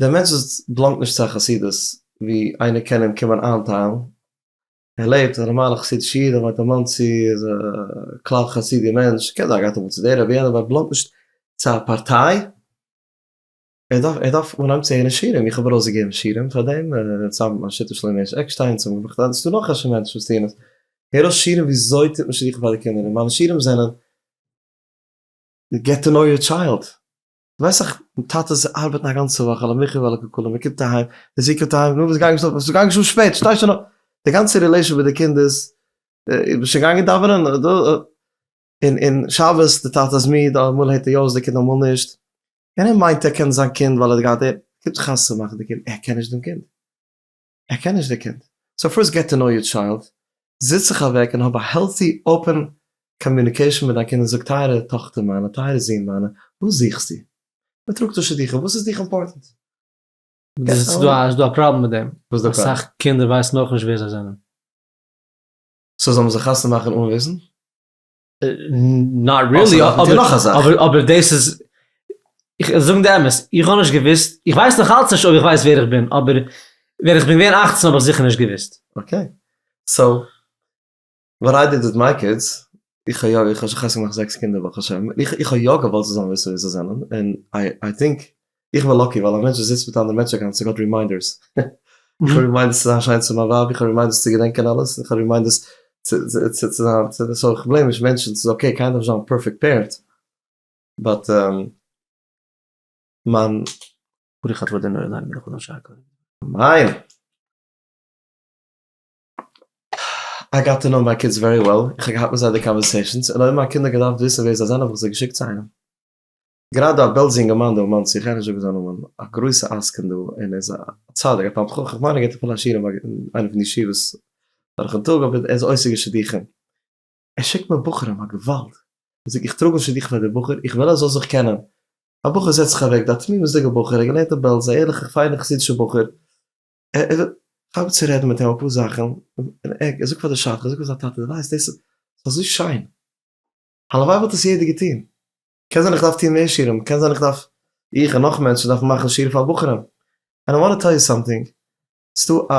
דער מענטש וואס באלאנגט נישט צו א חסידות ווי איינער קען אים קומען איינטיילן, ער לעבט א נארמאלע חסידישע איד, ער וואוינט אין מאנסי, ער איז א כלל חסידי מענטש, קען זיין ער גייט אמאל צו דער רבי יענער, אבער ער באלאנגט נישט צו א פארטיי, ער דארף ער דארף אנהייבן צו הערן שירים, איך האב ארויסגעגעבן שירים פאר דעם, צוזאמען מיט השיתוף שלמה הערש עקשטיין, צוזאמען מיט מיך, ס'דא נאך א שע מענטשן וואס טוען עס, הער אויס שירים וויאזוי טוט מען שדכן פאר די קינדער, און מיינע שירים זענען געט טו נאו יור טשיילד. ווייס איך טאטעס ארבעטן א גאנצע וואך על המחיה ועל הקלקלה מען קומט אהיים די זוהן קומט אהיים נו וואס גיימסט אויף ס'איז גאנג שוין שפעט שטיי שוין אויף די גאנצע רילעישאן מיט די קינד איז איז ביסט שוין געגאנגען דאווענען און און שבת די טאטע איז מיד אמאל הערט ער יא אויס די קינד אמאל נישט און ער מיינט ער קען זיין קינד ווייל ער האט געהאט ער קומט זיך חתונה מאכן די קינד ער קען נישט דעם קינד. ער קען נישט די קינד, סאו פירסט געט טו נאו יור טשיילד, זיץ זיך אוועק און האב א העלטי אפען קאמיוניקעישאן מיט דיין קינד און זאג טייערע טאכטער מיינע, טייערע זון מיינע, וואס זוכסטו? מען טראגט דא שידוכים, וואס איז דיך אימפארטענט? געט א. איז דא א פראבלעם מיט דעם? וואס איז דא פראבלעם? אסאך קינדער ווייסן אויך נישט ווער זיי זענען. סאו זאל מען זיי חתונה מאכן אן וויסן? נאט ריעלי, אבער דאס איז, איך זאג די אמת, איך האב נישט געוואוסט, איך ווייס נאך אלץ נישט אויב איך ווייס ווער איך בין, אבער ווען איך בין געווען אַכצן האב איך זיכער נישט געוואוסט. אקעי, סאו וואט איי דיד וויט מיי קידס, איך האב יא, איך האב שוין חתונה געמאכט זעקס קינדער ברוך השם, איך האב יא געוואלט זיי זאלן וויסן ווער זיי זענען, און איי טינק איך בין לאקי ווייל א מענטש וואס זיצט מיט אנדערע מענטשן אגאנצן טאג האט רימיינדערס. איך האב רימיינדערס צו זיין שיין צו מיין ווייב, איך האב רימיינדערס צו געדענקען אלעס, איך האב רימיינדערס צו זיין, סאו איך בלעים נישט מענטשן, ס'איז אקעי, קיינער דארף נישט זיין פערפעקט פערענט, באט מיין. ברוך אתה אדוני אלהינו מלך העולם שהכל נהיה בדברו. מיין. איי גאט טו נאו מיי קידס ווערי וועל, איך האב געהאט מיט זיי די קאנווערסעישאנס, און אויב מיין קינדער האבן געדארפט וויסן ווער זיי זענען האב איך זיי געשיקט צו איינעם. גראדע א בעלזע אינגערמאן דא אין מאנסי, איך גיי נישט זאגן זיין נאמען, א גרויסע עסקן דא, און ער איז א צדיק, א תלמיד חכם, איך מיין ער געבט אפילו א שיעור אין איינע פון די ישיבות דורכן טאג, אבער ער איז עוסק בשידוכים, ער שיקט מיר בחורים, א געוואלד, ער זאגט איך טראג אן שידוך פאר די בחור, איך וויל ער זאל זיך קענען, א בחור זעצט זיך אוועק דא, א תמימות'דיגע בחור, ער האט געלערנט אין בעלז, א ערליכע פיינע חסידישע בחור, איך וויל כאפן צו רעדן מיט אים אפאר זאכן, און ער זאגט פאר די שדכן, ער זאגט פאר זיין טאטע, די ווייסט דאס איז אזוי שיין, הלוואי וואלט עס יעדער געטון, קען זיין איך דארף טון מער שיעורים, קען זיין איך דארף, איך און נאך מענטשן דארפן מאכן שיעור פאר בחורים, ענד איי וואנט טו טעל יו סאמטינג, ס'דא א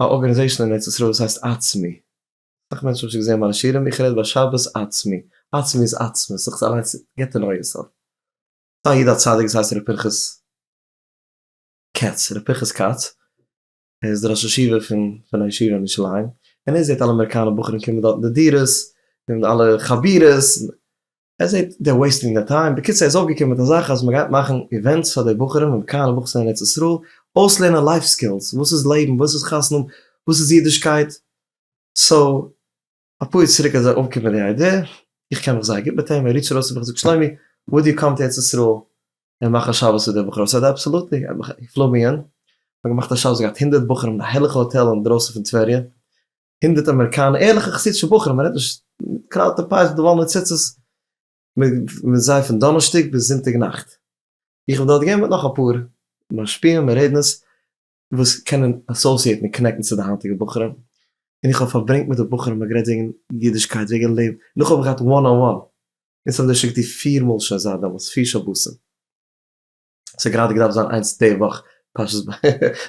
א ארגענעזעישן אין ארץ ישראל וואס הייסט עצמי, אסאך מענטשן האבן שוין געזען מיינע שיעורים, איך רעד ביי שבת עצמי, עצמי איז עצמות, זיך אליינס, געט טו נאו יור סעלף, ס'דא א איד א צדיק וואס הייסט ר' פנחס קעץ, ר' פנחס כץ, ער איז דער ראש ישיבה פון פון א ישיבה אין ירושלים, און ער זעט אלע אמעריקאנע בחורים קומען דארט אין די דירות, און אלע חבירות, ער זעט דער וועיסטינג דער טיים, בקיצור ער איז אויפגעקומען מיט א זאך אז מען גייט מאכן איווענטס פאר די בחורים אמעריקאנע בחורים אין ארץ ישראל, אויסלערנען לייף סקילס, וואס איז לעבן, וואס איז חתונה, וואס איז אידישקייט, סאו אפאר יאר צוריק איז ער אויפגעקומען מיט די איידיע, איך קען מיך זייער גוט מיט אים, ער ריטשט ארויס צו מיך און זאגט שלומי וואלט דו געקאנט ארץ ישראל און מאכן שבת מיט די בחורים? איך זאג אים אבסאלוטלי, ער האט מיך אינפלאמיען, מיר האבן געמאכט א שבת געהאט הונדערט בחורים אין א הערליכע האטעל אינדרויסן פון טבריה, הונדערט אמעריקאנע ערליכע חסידישע בחורים, מען רעדט נישט קראוטע פייס מיט די וואלנע ציצית, מיט זיי פון דאנערשטאג ביז זונטאג נאכט, איך בין דארט געווען מיט נאך אפאר משפיעים און רעדנערס, וואס קענען אסאסיעטן און קאנעקטן צו די היינטיגע בחורים, און איך האב פארברענגט מיט די בחורים און גערעדט וועגן אידישקייט וועגן לעבן, און איך האב געהאט וואן אן וואן אונז האב דערשיקט דיר פיר מאל שוין זייט דעמאלטס פיר שבתים, עס האט גראדע געדארפט זיין איינס די וואך פרשת ב ה,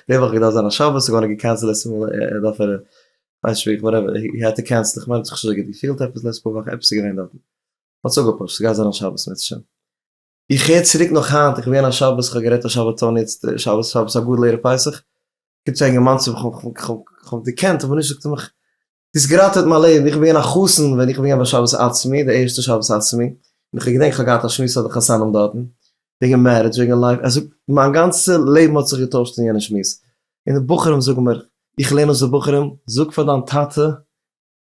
די וואך האט געדארפט זיין א שבת איז געווארן געקענסלעט עס דארף ער ווייסט נישט ווי איך וואטעווער הי האד טו קענסל איך מיין עס האט זיך נישט אזוי גוט געפילט עפעס לעצט פאר וואך עפעס איז געווען דארטן, האט זיך אפגעפארשט ס'גייט זיין א שבת מערצעשעם. איך הער צוריק נאך היינט, איך בין געווען א שבת, איך האב גערעדט א שבתון יעצט שבת שבת הגדול ערב פסח, קומט צו א אינגערמאן צו מיך, איך האב אים געקענט אבער נישט, זאגט ער מיך, דו האסט געראטעוועט מיין לעבן, איך בין געווען א חתן ווען איך בין געווען ביי שבת עצמי, די ערשטע שבת עצמי, און איך האב געדענקט איך האב געהאט א שמועס פאר די חתנים דארטן, וועגן מערידזש, וועגן לייף, ער זאגט מיין גאנצע לעבן האט זיך געטוישט אין יענע שמועס, און די בחורים זאגן מיר, איך לערן אויס די בחורים, זאג פאר דיין טאטע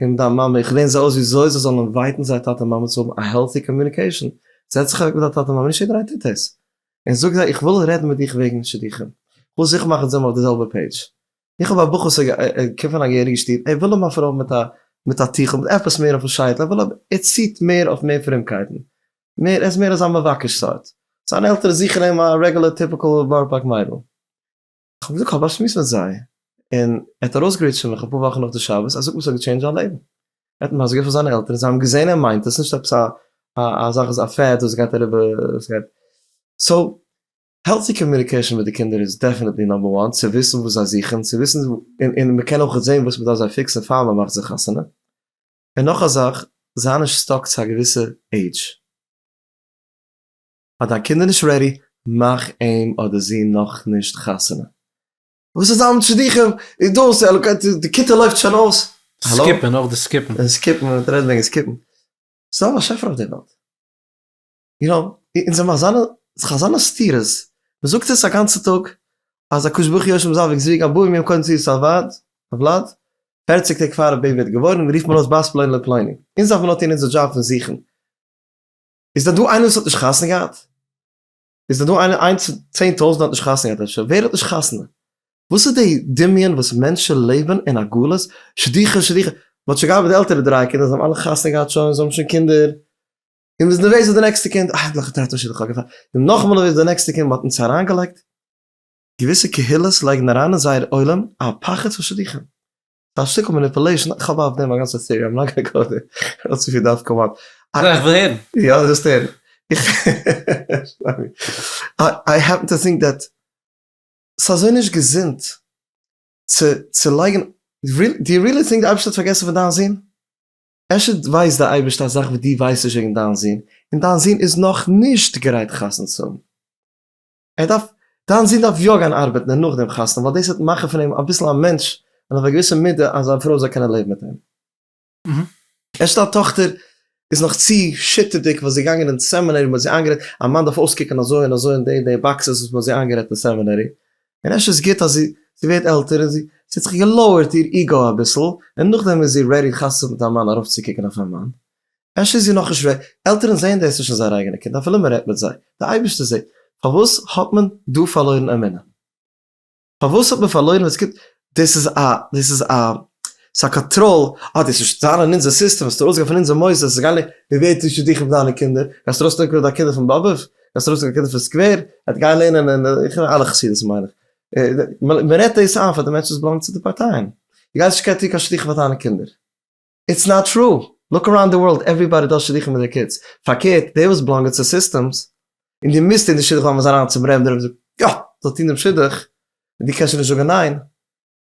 און דיין מאמע, איך לערן זיי אויס וויאזוי זיי זאלן אינווייטן זייער טאטע מאמע צו האבן א העלטי קאמיוניקעישאן, זעץ זיך אוועק מיט דיין טאטע מאמע, נישט יעדער איינער טוט דאס, און זאג זיי איך וויל רעדן מיט דיך וועגן שידוכים, כ'וויל זיכער מאכן אז זיי זענען אויף די זעלבע פעידזש, איך האב א בחור ס'איז געקומט פון א געהעריגע שטוב, ער וויל אים א פרוי מיט א מיט א טיכל, מיט עפעס מער אויפן שייטל, ער וויל א ער ציט מער אויף מער פרומקייטן, מער ער איז מער אזא מבקש סארט, זיינע עלטערן זוכן אים א רעגולער טיפיקעל בארא פארק מיידל. כ'האב געזאגט כ'האב באשמועסט מיט זיי, און ער האט ארויסגערודשט פון מיך אפאר וואכן נאך די שבת, ער זאגט וואס האט געטשעינדזשט זיין לעבן, ער האט מסביר געווען פאר זיינע עלטערן, זיי האבן געזען ער מיינט עס, נישט עפעס א א זאך איז א פעד וואס גייט אריבער וואס גייט, סאו העלטי קאמיוניקעישאן מיט די קינדער איז דעפענעטלי נאמבער וואן, צו וויסן וואס זיי זוכן, צו וויסן און און מען קען אויכעט זען וואס מען דארף זיי פיקסן פאר מען מאכט זיי חתונה, און נאך א זאך, זיי נישט סטאק צו א געוויסע עידזש. פאר דיין קינד איז נישט רעדי, מאך אים אדער זי נאך נישט חתונה. וואס איז אלעם שידוכים איז דאס די כיתה לויפט שוין אויס. סקיפן אויך די סקיפן. סקיפן מען וועט רעדן וועגן סקיפן. ס'איז דא באשעפער אויף די וועלט. יו נאו אונז זעמער אזאנע אזאנע סתירות. מען זאגט אונז א גאנצע טאג אז הקדוש ברוך הוא יושב זיין וועג זוויג אבוים יום קודם צו סארוואד אבלאד פערציג טעג פאר א בעיבי ווערט געבוירן רופט מען אויס בית פלוני לפלוני. אונז דארף מען נאר טון אונזער דזשאב פון זוכן. איז דא דא איינער וואס האט נישט חתונה געהאט? איז דא דא איינער איינס פון צען טויזענט האט נישט חתונה געהאט אפשר? ווער האט נישט חתונה? וואס איז די דמיון וואס מענטשען לעבען אין א גלות, שדיחה שדיחה, מ'האט שוין געהאט די עלטערע דריי קינדער זיי האבן אלע חתונה געהאט שוין זיי האבן שוין קינדער, און וואס נערוועז איז די נעקסטע קינד, אה נאך א טאטע שידוך האט געפאלן, און נאכמער נערוועז די נעקסטע קינד, מ'האט אונז אריין געלייגט, געוויסע קהילות לייגן אריין אין זייער עולם א פחד פון שדיחים, פארשטיקונג מאניפולעישאן, איך האב אויף דעם א גאנצע טעארי, איים נאט גאנע גאו דער, כ'האב צו פיל דארף קאמאן. נו, איך וויל הערן. יא, דו זאלסט הערן. איי העפן טו טינק דעט ס'איז אזוי נישט געזונט צו צו לייגן, דו יו רילי טינק די אייבערשטער האט פארגעסן פון דיין זון? אפשר ווייסט די אייבערשטער א זאך וואס דו ווייסט נישט וועגן דיין זון, און דיין זון איז נאך נישט גרייט חתונה צו האבן. ער דארף, דיין זון דארף יא גיין ארבעטן און נאכדעם חתונה ווייל דאס וועט מאכן פון אים אביסל א מענטש און אויף א געוויסע מידה אז זיין פרוי זאל קענען לעבן מיט אים. ערשט דיין טאכטער איז נאך צו שיטערדיג וואס זי איז געגאנגען אין סעמינערי מען האט זי איינגערעדט א מאן דארף אויסקוקן אזוי און אזוי און די און די באקסעס וואס מען האט זי איינגערעדט אין סעמינערי און ערשט איז גוט אז זי זי ווערט עלטער און זי זי האט זיך געלאוערט איר איגאו אביסל און נאכדעם איז זי רעדי חתונה מיט א מאן ארויפצוקוקן אויף א מאן אפשר איז איר נאכנישט רעדי, עלטערן זעען דאס נישט אין זייער אייגענע קינד אפילו מען רעדט מיט זיי, דער אייבערשטער זעט, פארוואס האט מען דא פארלוירן אמונה? פארוואס האט מען פארלוירן ווען עס קומט, דאס איז א, דאס איז א, ס'איז א קאנטראל, אה דאס וועסט זיין אין אונזער סיסטעם, וועסט ארויסגיין פון אונזער מוסדות, ס'איז גארנישט, מען ווערט נישט צו דיך און דיינע קינדער, גייסט ארויסנעמען קודם דיינע קינדער פון באבוב? גייסט ארויסנעמען דיינע קינדער פון סקווער? ער וועט גיין לערנען אין, איך מיין אלע חסידות'ן מיין איך, מען רעדט דאס איין פאר די מענטשן וואס באלאנגען צו די פארטייען, דו גייסט נישט קענען טון קיין שדכן פאר דיינע קינדער. איטס נאט טרו! לוק אראונד די ווארלד עוועריבאדי דאס שידוכים מיט די קידס, פארקערט די וואס בלאנגען צו סיסטעמס און די מוזט אין די שידוך וועלן מיר זיין אריין צום רעב די רעב זאגט יא זאל טון דעם שידוך און די קענסט שוין נישט זאגען ניין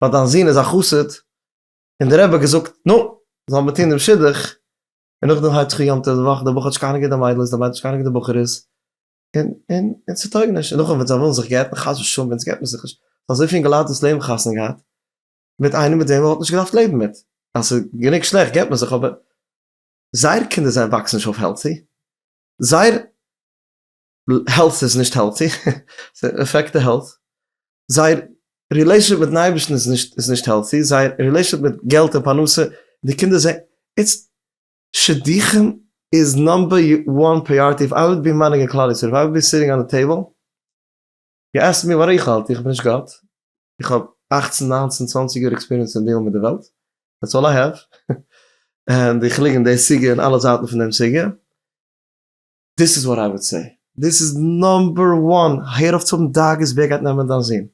ווייל דיין זון איז א חסיד און די רעב האט געזאגט נו זאל מען טון דעם שידוך און נאכדעם הייבט זיך אן יום טוב די וואך די בחור האט נישט קיינער געווען די מיידל איז די מיידל האט נישט קיינער געווען די בחור איז און און און ס'טויג נישט און נאכדעם ווען זיי ווילן זיך גט'ן חס ושלום ווען סגט מען זיך נישט אזויפיל אינגעלייט דאס לעבן חתונה געהאט מיט איינעם מיט וועם מען וואלט נישט געדארפט לעבן מיט, אז ס'איז גענוג שלעכט געבט מען זיך אבער זייער קינדער זיי וואקסן נישט אויף העלטי, זייער העלט איז נישט העלטי, ס'עפעקט די העלט, זייער רילעישאנשיפ מיטן אייבערשטן איז נישט איז נישט העלטי, זייער רילעישאנשיפ מיט געלט און פרנסה, די קינדער זעהן איטס שידוכים איז נאמבער וואן פריאריטי, איף איי וואלד בי מאנעגינג כלל ישראל, איף איי וואלד בי סיטינג אן די טעיבל, יו עסק מי וואט איך האלט? איך בין נישט גאט, איך האב אכצן ניינצן צוואנציג יאר עקספיריענס אין דיעלן מיט די וועלט, דעטס אלל איי העוו, און איך ליג אין די סוגיא און אלע זייטן פון דעם סוגיא, דיס איז וואט איי וואד סעי, דיס איז נאמבער וואן, הער אויף צו האבן דאגות ווער גייט נעמען דיין זון.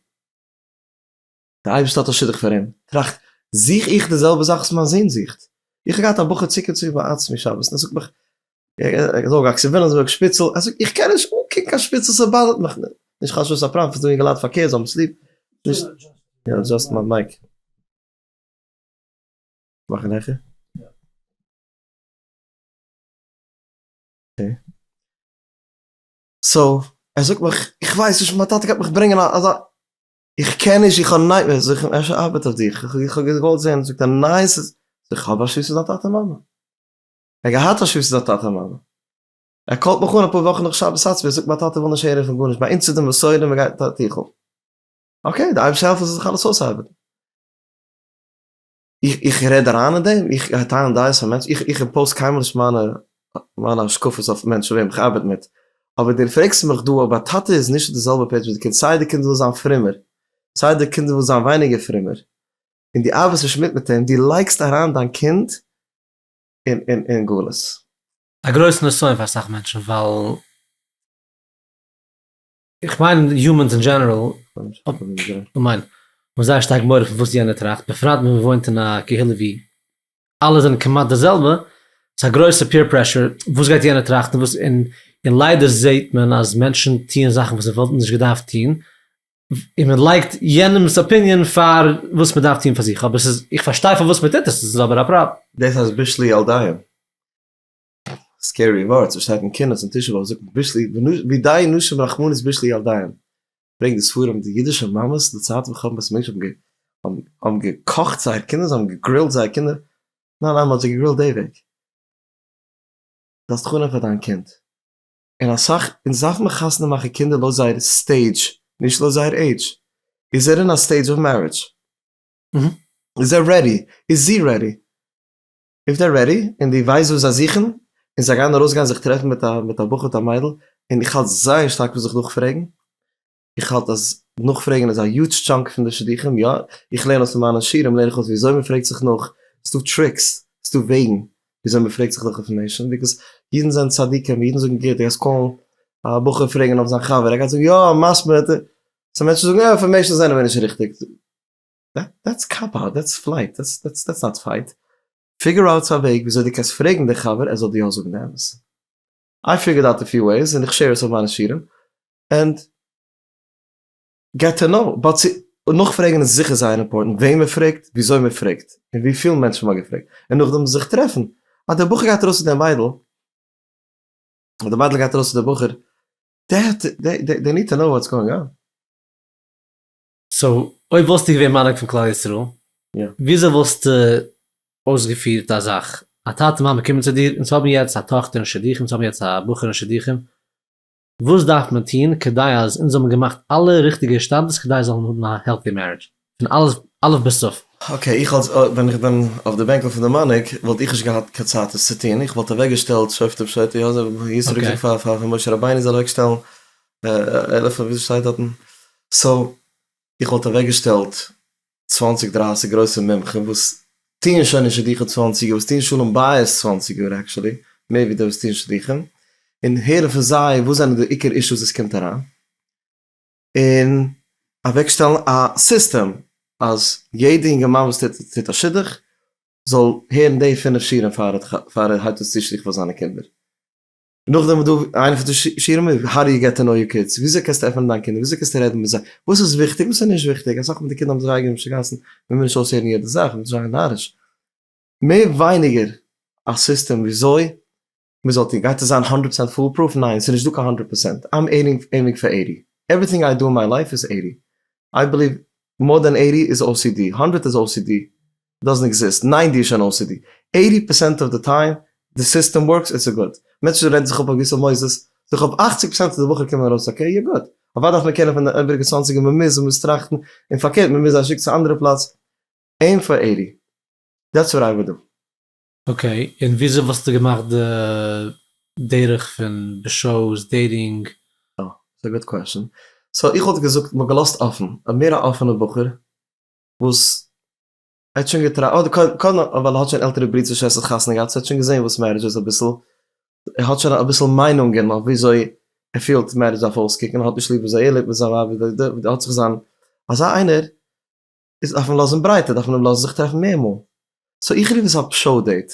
דער אייבערשטער האט א שידוך פאר אים, טראכט, זוך איך די זעלבע זאך וואס מיין זון זוכט? איך האב געהאט א בחור צוקער צו ביי עצמי שבת, און ער זאגט מיך, ער זאל גאקסען וויליאמסבורג שפיצעל, ער זאגט, איך קען נישט אנקוקן קיין שפיצעל, ס'באדערט מיך, נישט חשש וואס א פראנפט, ס'דא אינגעלייט פארקערט, זיי האבן עס ליב, נישט. יא אדזשאסט מיין מייק. מאכן העכער? אקעי. סאו, ער זאגט מיך, איך ווייס נישט, מיין טאטע גייט מיך ברענגען אזא. איך קען נישט איך האב נייט מערס, זאג איך אפשר ארבעט אויף דיך, איך האב געוואלט זען, זאגט ער ניין ס'איז, זאג איך האב א שותפות מיט דיין טאטע מאמע, ער האט געהאט א שותפות מיט זיין טאטע מאמע, ער קאלט מיך אן אפאר וואכן נאך שבת האט ווי ער זאגט מיין טאטע וויל נישט הערן פון גארנישט ביי אונז איז די מסורה מען גייט א טיכל, אקעי די אייבערשטער העלפן ס'זאל זיך אלעס אויסארבעטן. איך רעד אריין אין דעם? איך טייל דעות פון מענטשן? איך איך אימפאוז קיינמאל נישט מיינע מיינע השקפות אויף מענטשן וועם איך ארבעט מיט. אבער דו פרעגסט מיך דא אויב א טאטע איז נישט אויף די זעלבע פעידזש מיט די קינד סיי די קינד וויל זיין פרומער סיי די קינד וויל זיין ווייניגער פרומער און דו ארבעסט נישט מיט מיט אים, דו לייגסט אריין דיין קינד אין אין אין גלות. א גרויסן נסיון פאר אסאך מענטשן ווייל. איך מיין יומענס אין דזשענעראל האבן זייער שטארק מורא פון וואס יענער טראכט, בפרט ווען מען וואוינט אין א קהילה ווי אלע זענען כמעט די זעלבע, ס'איז א גרויסע פעיר פרעשור, וואס גייט יענער טראכטן וואס, און און ליידער זעט מען אז מענטשן טוען זאכן וואס זיי וואלטן נישט געדארפט טון, און מען לייגט יענעמ'ס אפיניען פאר וואס מען דארף טון פאר זיך, אבער ס'איז, איך פארשטיי פארוואס מען טוט עס, ס'איז אבער א פראבלעם. דאס אז בישלי על דיין. סקערי ווארטס וואס שטייט אין קינות און תשעה באב זאגט בישלי בידי נשים רחמנות בישלי ילדיהן ברענגט די ספרים די אידישע מאמעס די צייט ווען חכמת בית המקדש האבן געקאכט האבן געקאכט זייער קינדער זיי האבן געגרילט זייער קינדער ניין ניין מען האט זיי געגרילט די וועג זאלסט חנ'ען פאר דיין קינד און אסאך אונז דארף מען חתונה מאכן קינדער לויט זייער סטעידזש נישט לויט זייער עידזש איז ער אין א סטעידזש אוו מערידזש? איז ער רעדי? איז זי רעדי? איף דער רעדי און דו ווייסט וואס זיי זוכן און זיי גייען ארויס גיין זיך טרעפן מיט א מיט א בחור מיט א מיידל און איך האלט זייער שטארק פון זיך נאכפרעגן איך האלט אז נאכפרעגן איז א יוטש טשאנק פון די שידוכים יא איך לערן אויס פון מיינע שיעורים לערן איך אויס ווי אזוי מען פרעגט זיך נאך ס'דא טריקס ס'דא וועגן ווי אזוי מען פרעגט זיך נאך אויפן מענטשן ביזקאוס אידן זענען צדיקים אידן זאגן גוט דו גייסט קאלן א בחור פרעגן אויף זיין חבר ער גייט זאגן יא מספיד סאו מענטשן זאגן יא אינפארמעישן זענען מיר נישט ריכטיג. דעטס קאפאוט, דעטס פלייט, דעטס נאט פייט, פיגור אוט א וועג וויאזוי דו קענסט פרעגן די חבר ער זאל דיר יא זאגן די אמת, איי פיגורד אוט א פיו וועיס און איך שעיר עס אויף מיינע שירעם ענד געט טו נאו, באט צו נאכפרעגן איז זיכער זייער אימפארטענט, וועם מען פרעגט, וויאזוי מען פרעגט, און וויפיל מענטשן מ'האט געפרעגט, און נאכדעם זיך טרעפן, אז דער בחור גייט ארויס צו דער מיידל, אדער די מיידל גייט ארויס צו די בחור, דעי ניד טו נאו וואטס גאואינג אן. סאו אויב וואלסטו געווען מנהיג פון כלל ישראל, וויאזוי וואלסטו אויסגעפירט א זאך, א טאטע מאמע קומען צו דיר, אונז האבן יעצט א טאכטער אין שידוכים, אונז האבן יעצט א בחור אין שידוכים, וואס דארף מען טון כדי אז אונז זאלן געמאכט אלע ריכטיגע השתדלות כדי זיי זאלן האבן א העלטי מערידזש פון א' אלף ביז ת'? אקעי, איך אלס ווען איך בין אויף די בענקל פון די מנהיג וואלט איך נישט געהאט קיין צייט עס צו טון, איך וואלט אוועקגעשטעלט שופטים שוטי, אזוי ווי ישרק זאגט פאר משה רבינו זאל אוועקשטעלן עלף און וויפיל שטייט דארטן, סאו איך וואלט אוועק געשטעלט צוואנציג דרייסיג גרויסע מומחים וואס טוען שוין אין שידוכים צוואנציג יאר, וואס טוען שלום בית צוואנציג יאר עקשעלי, מער ווי די וואס טוען שידוכים, און הערן פון זיי וואס זענען די עיקר אישוס וואס קומט אריין, און אוועק שטעלן א סיסטעם אז יעדע אינגערמאן וואס טוט א שידוך זאל הערן די פינף שיעורים פאר ער הייבט אן צו צו שידוך פאר זיינע קינדער. נאכדעם וואס דא איינע פון די שיעורים איז האו דו יו געט טו נאו יור קידס, וויאזוי קענסטו עפענען דיין קינדער, וויאזוי קענסטו רעדן מיט זיי, וואס איז וויכטיג וואס איז נישט וויכטיג, אסאך פון די קינדער האבן זיך אייגענע משוגעת'ן, מען וויל נישט אויסהערן יעדע זאך, מען איז זייער נאריש, מער ווייניגער א סיסטעם וויאזוי מען זאל טון, גייט עס זיין הונדרעט פארצענט פול פרוף, ניין ס'איז נישט דא קיין הונדרעט פארצענט, איים עימינג פאר עיטי, עווריטינג איי דא אין מיי לייף איז עיטי, איי בעליוו מאר דען עיטי איז ocd, הונדרעט איז ocd. דאזענט עקזיסט, ניין דו האסט שוין ocd, עיטי פערסענט אוו די טיים די סיסטעם ווארקס איטס גוד, מענטשן רעדן זיך אפ אויף געוויסע מוסדות, זיך אפ אַכציק פראצענט פון די בחורים קומען ארויס אקעי, יא גוט, אוודאי דארף מען קענען פון די איבעריגע צוואנציגער מען מוז מ'מוז טראכטן, און פארקערט מ'מוז זיי שיקן צו אנדערע פלאץ, עימ פאר עיטי, דעטס וואט איי וואלט דא. אקעי, און וויאזוי וואלסטו געמאכט די דרך פון בשעות, דעיטינג? אה, ס'איז א גוט קוועשאן. סאו איך וואלט געזאגט, מ'האט געלאזט אפען, אויב מער א אפענע בחור, וואס ער האט שוין געטרא אדער קודם קודם ווייל ער האט שוין עלטערע ברידער שוועסטער חתונה געהאט סאו ער האט שוין געזעהן וואס מערידזש איז אביסל, ער האט שוין אביסל מיינונגען אויף וויאזוי ער פילט מערידזש דארף אויסקוקן, ער האט נישט ליב וויאזוי ער לעבט מיט זיין ווייב וכדו' וכדו' האט זיך זיין אזא איינער איז דארף מען לאזן ברייטער דארף מען אים לאזן זיך טרעפן מער מאל, סאו איך רוף עס א פשרה דעיט,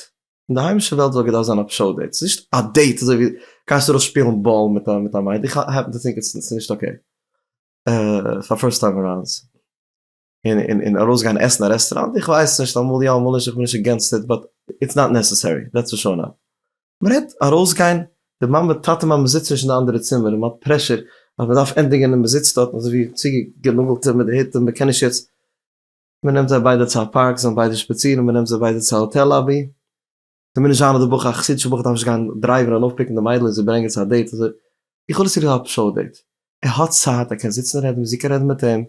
אין די היימישע וועלט וואלט געדארפט זיין א פשרה דעיט, ס'איז נישט א דעיט אזוי ווי גייסט ארויס שפילן באל מיט א מיט א מיידל, איך העפן טו טינק איטס נישט אקעי. פאר פירסט טיים ארייוס און ארויסגיין עסן אין א רעסטוראנט, איך ווייס נישט אמאל יא אמאל נישט איך בין נישט אגענסט איט באט איטס נאט נעסעסערי דעטס פאר שור נאו. מ'רעדט ארויסגיין די מאמע טאטע מאמע זיצט נישט אין די אנדערע צימער און מ'האט פרעשור אז מ'דארף ענדיגן און מ'זיצט דארט אזוי ווי צוגענאגלטע מיט די היט און מ'קען נישט יעצט, מ'נעמט זיי ביידע צו א פארק זיי זאלן ביידע שפאצירן, מ'נעמט זיי ביידע צו א האטעל לאבי, כמיניש זיין אז די בחור א חסיד שבח דארף נישט גיין דרייווען און אויפפיקן די מיידל און זי ברענגען צו א דעיט אזוי איך האב עס צוגעזאגט א פשרה דעיט ער האט צייט ער קען זיצן רעדן ווי זי קען רעדן מיט אים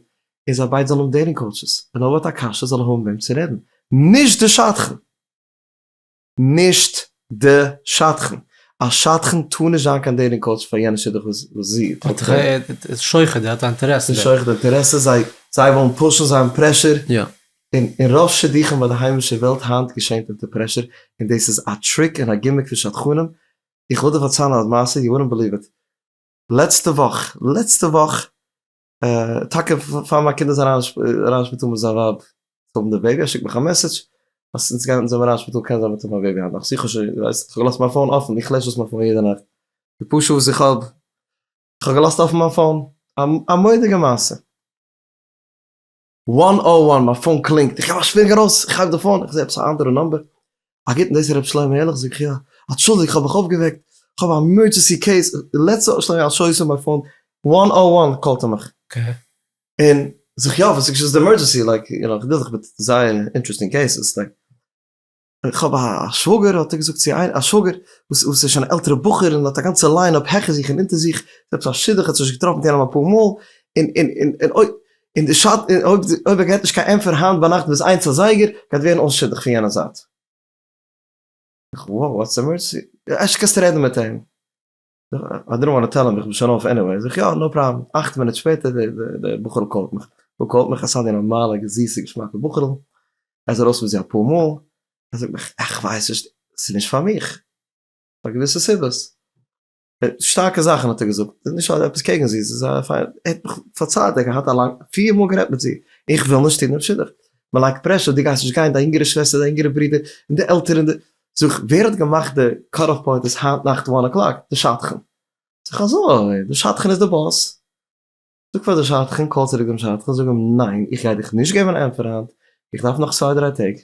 און זיי ביידע זאלן האבן דעיטינג קאוטשעס ווען אויב ער האט א קשיא זאל ער האבן וועם צו רעדן נישט די שדכן נישט די שדכן א שדכן טאר נישט זיין קיין דעיטינג קאוטש פאר יענע שידוך וואס זי טרעפט ער איז שוחד ער האט א אינטערעסע דערין. שוחד אינטערעסע זיי ווילן פושן זיי האבן פרעשור און אין רוב שידוכים ביי די היימישע וועלט היינט געשענט אונטער פרעשור, און דאס איז א טריק און א גימיק פון שדכנים, איך וויל דיר פארציילן א מעשה, יו וואלנט בעליוו איט, לעצטע וואך, לעצטע וואך, טאקע פאר מיין קינד איז אריין אין שפיטאל מיט זיין ווייב צו האבן די בעיבי, ער שיקט מיך א מעסעדזש אז אונז גייען אונז האבן אריין אין שפיטאל קען זיין מ'וועט האבן א בעיבי היינט נאכט, איך האב שוין געוויסט, איך האב געלאזט מיין פאון אפן, איך לעש אויס מיין פאון יעדע נאכט, די פאר שעה וואס איך האב, איך האב געלאזט אפן מיין פאון, א מודיגע מעשה. וואן אוו וואן, מיין פאון קלינגט, איך הייב א שווינג ארויס, איך הייב די פאון, איך זע עפעס א אנדערע נאמבער, א גוטן דאס איז רבי שלמה ערליך זאג איך יא, אנטשולדיג כ'האב דיך אויפגעוועקט, כ'האב א עמערדזשענסי קעיס, לעטס האפ שלמה אייל שאו יו סאן מיי פאון, וואן אוו וואן קאלט ער מיך, און זאג איך יא וואס איז געשען, וואס איז די עמערדזשענסי, לייק איך דיל זיך מיט זייער אינטערעסטינג קעיסעס, לייק. כ'האב א שוואגער האט ער געזאגט צו איינער א שוואגער וואס איז שוין א עלטערע בחור און האט א גאנצע ליין אפ העכער זיך און אונטער זיך, זעלבסט א שידוך האט ער שוין געטראפן קען אים אפאר מאל, און און און און אוי און די שאד און אויב אויב ער געט נישט קיין ענטפער היינט ביינאכט ביז איינס אזייגער גייט ווערן אן שידוך פון יענע זייט. איך, וואו, וואטס עמערדזשענסי? ערשט קענסטו רעדן מיט אים. איי דידנט וואנט טו טעל אים איך בין שוין אויף עניוועי, זאג איך יא נאו פראבלעם, אַכט מינוט שפעטער די בחור'ל קאלט מיך, וואו קאלט מיך? עס איז די נארמאלע זיסע געשמאקע בחור'ל, ער איז ארויס מיט זי אפאר מאל, ער זאגט מיך איך ווייס נישט עס איז נישט פאר מיך, פאר געוויסע סיבות, שטארקע זאכן האט ער געזאגט, עס איז נישט עפעס קעגן זי, עס איז א פיינע, ער האט מיך פארציילט ער האט געהאט א לאנג, פיר מאל גערעדט מיט זי, איך וויל נישט טון דעם שידוך, מען לייגט פרעשור, דו גייסט נישט גיין, דיין יונגערע שוועסטער, דיין יונגערע ברודער, און די עלטערן, זאג, ווער האט געמאכט די קאט אף פוינט אז היינט נאכט וואן אקלאק? די שדכן. זאג איך, אזוי? די שדכן איז די באס? זאג פאר די שדכן, קאל צוריק דעם שדכן, זאג אים, ניין, איך גיי דיך נישט געבן א ענטפער היינט, איך דארף נאך צוויי דריי טעג.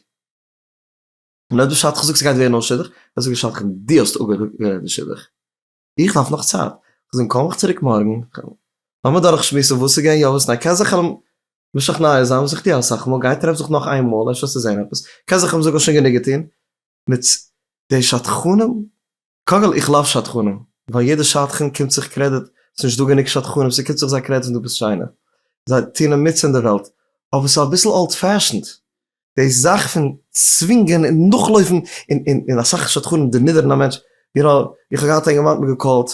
און אויב די שדכן זאגט ס'גייט ווערן אן שידוך, דאן זאג די שדכן, דו האסט אפגעזאגט די שידוך. איך דארף נאך צייט, איך וועל זען קום איך צוריק מארגן, לאמיר דורך שמועסן וואס איז געווען יא וואס ניין, קען זיך אים משכנע זיין וואס איך טוה אסאך מאל, גיי טרעף זיך נאך איין מאל אפשר צו זען עפעס, קען זיך אים זאגן שוין גענוג געטון, מיט די שדכנים, קודם כל איך לאוו שדכנים, ווייל יעדע שדכן קומט זיך קרעדיט, ס'איז נישט דא גענוג שדכנים, ס'קומט זיך זיי קרעדיט ווען דו ביסט שיינער, זיי טוען עמיצן אין די וועלט, אבער ס'איז אביסל אולד פעשענד, די זאך פון צווינגען און נאכלויפן און אסאך שדכנים דערנידערן א מענטש, איך האב געהאט א יונגערמאן האט מיר געקאלט,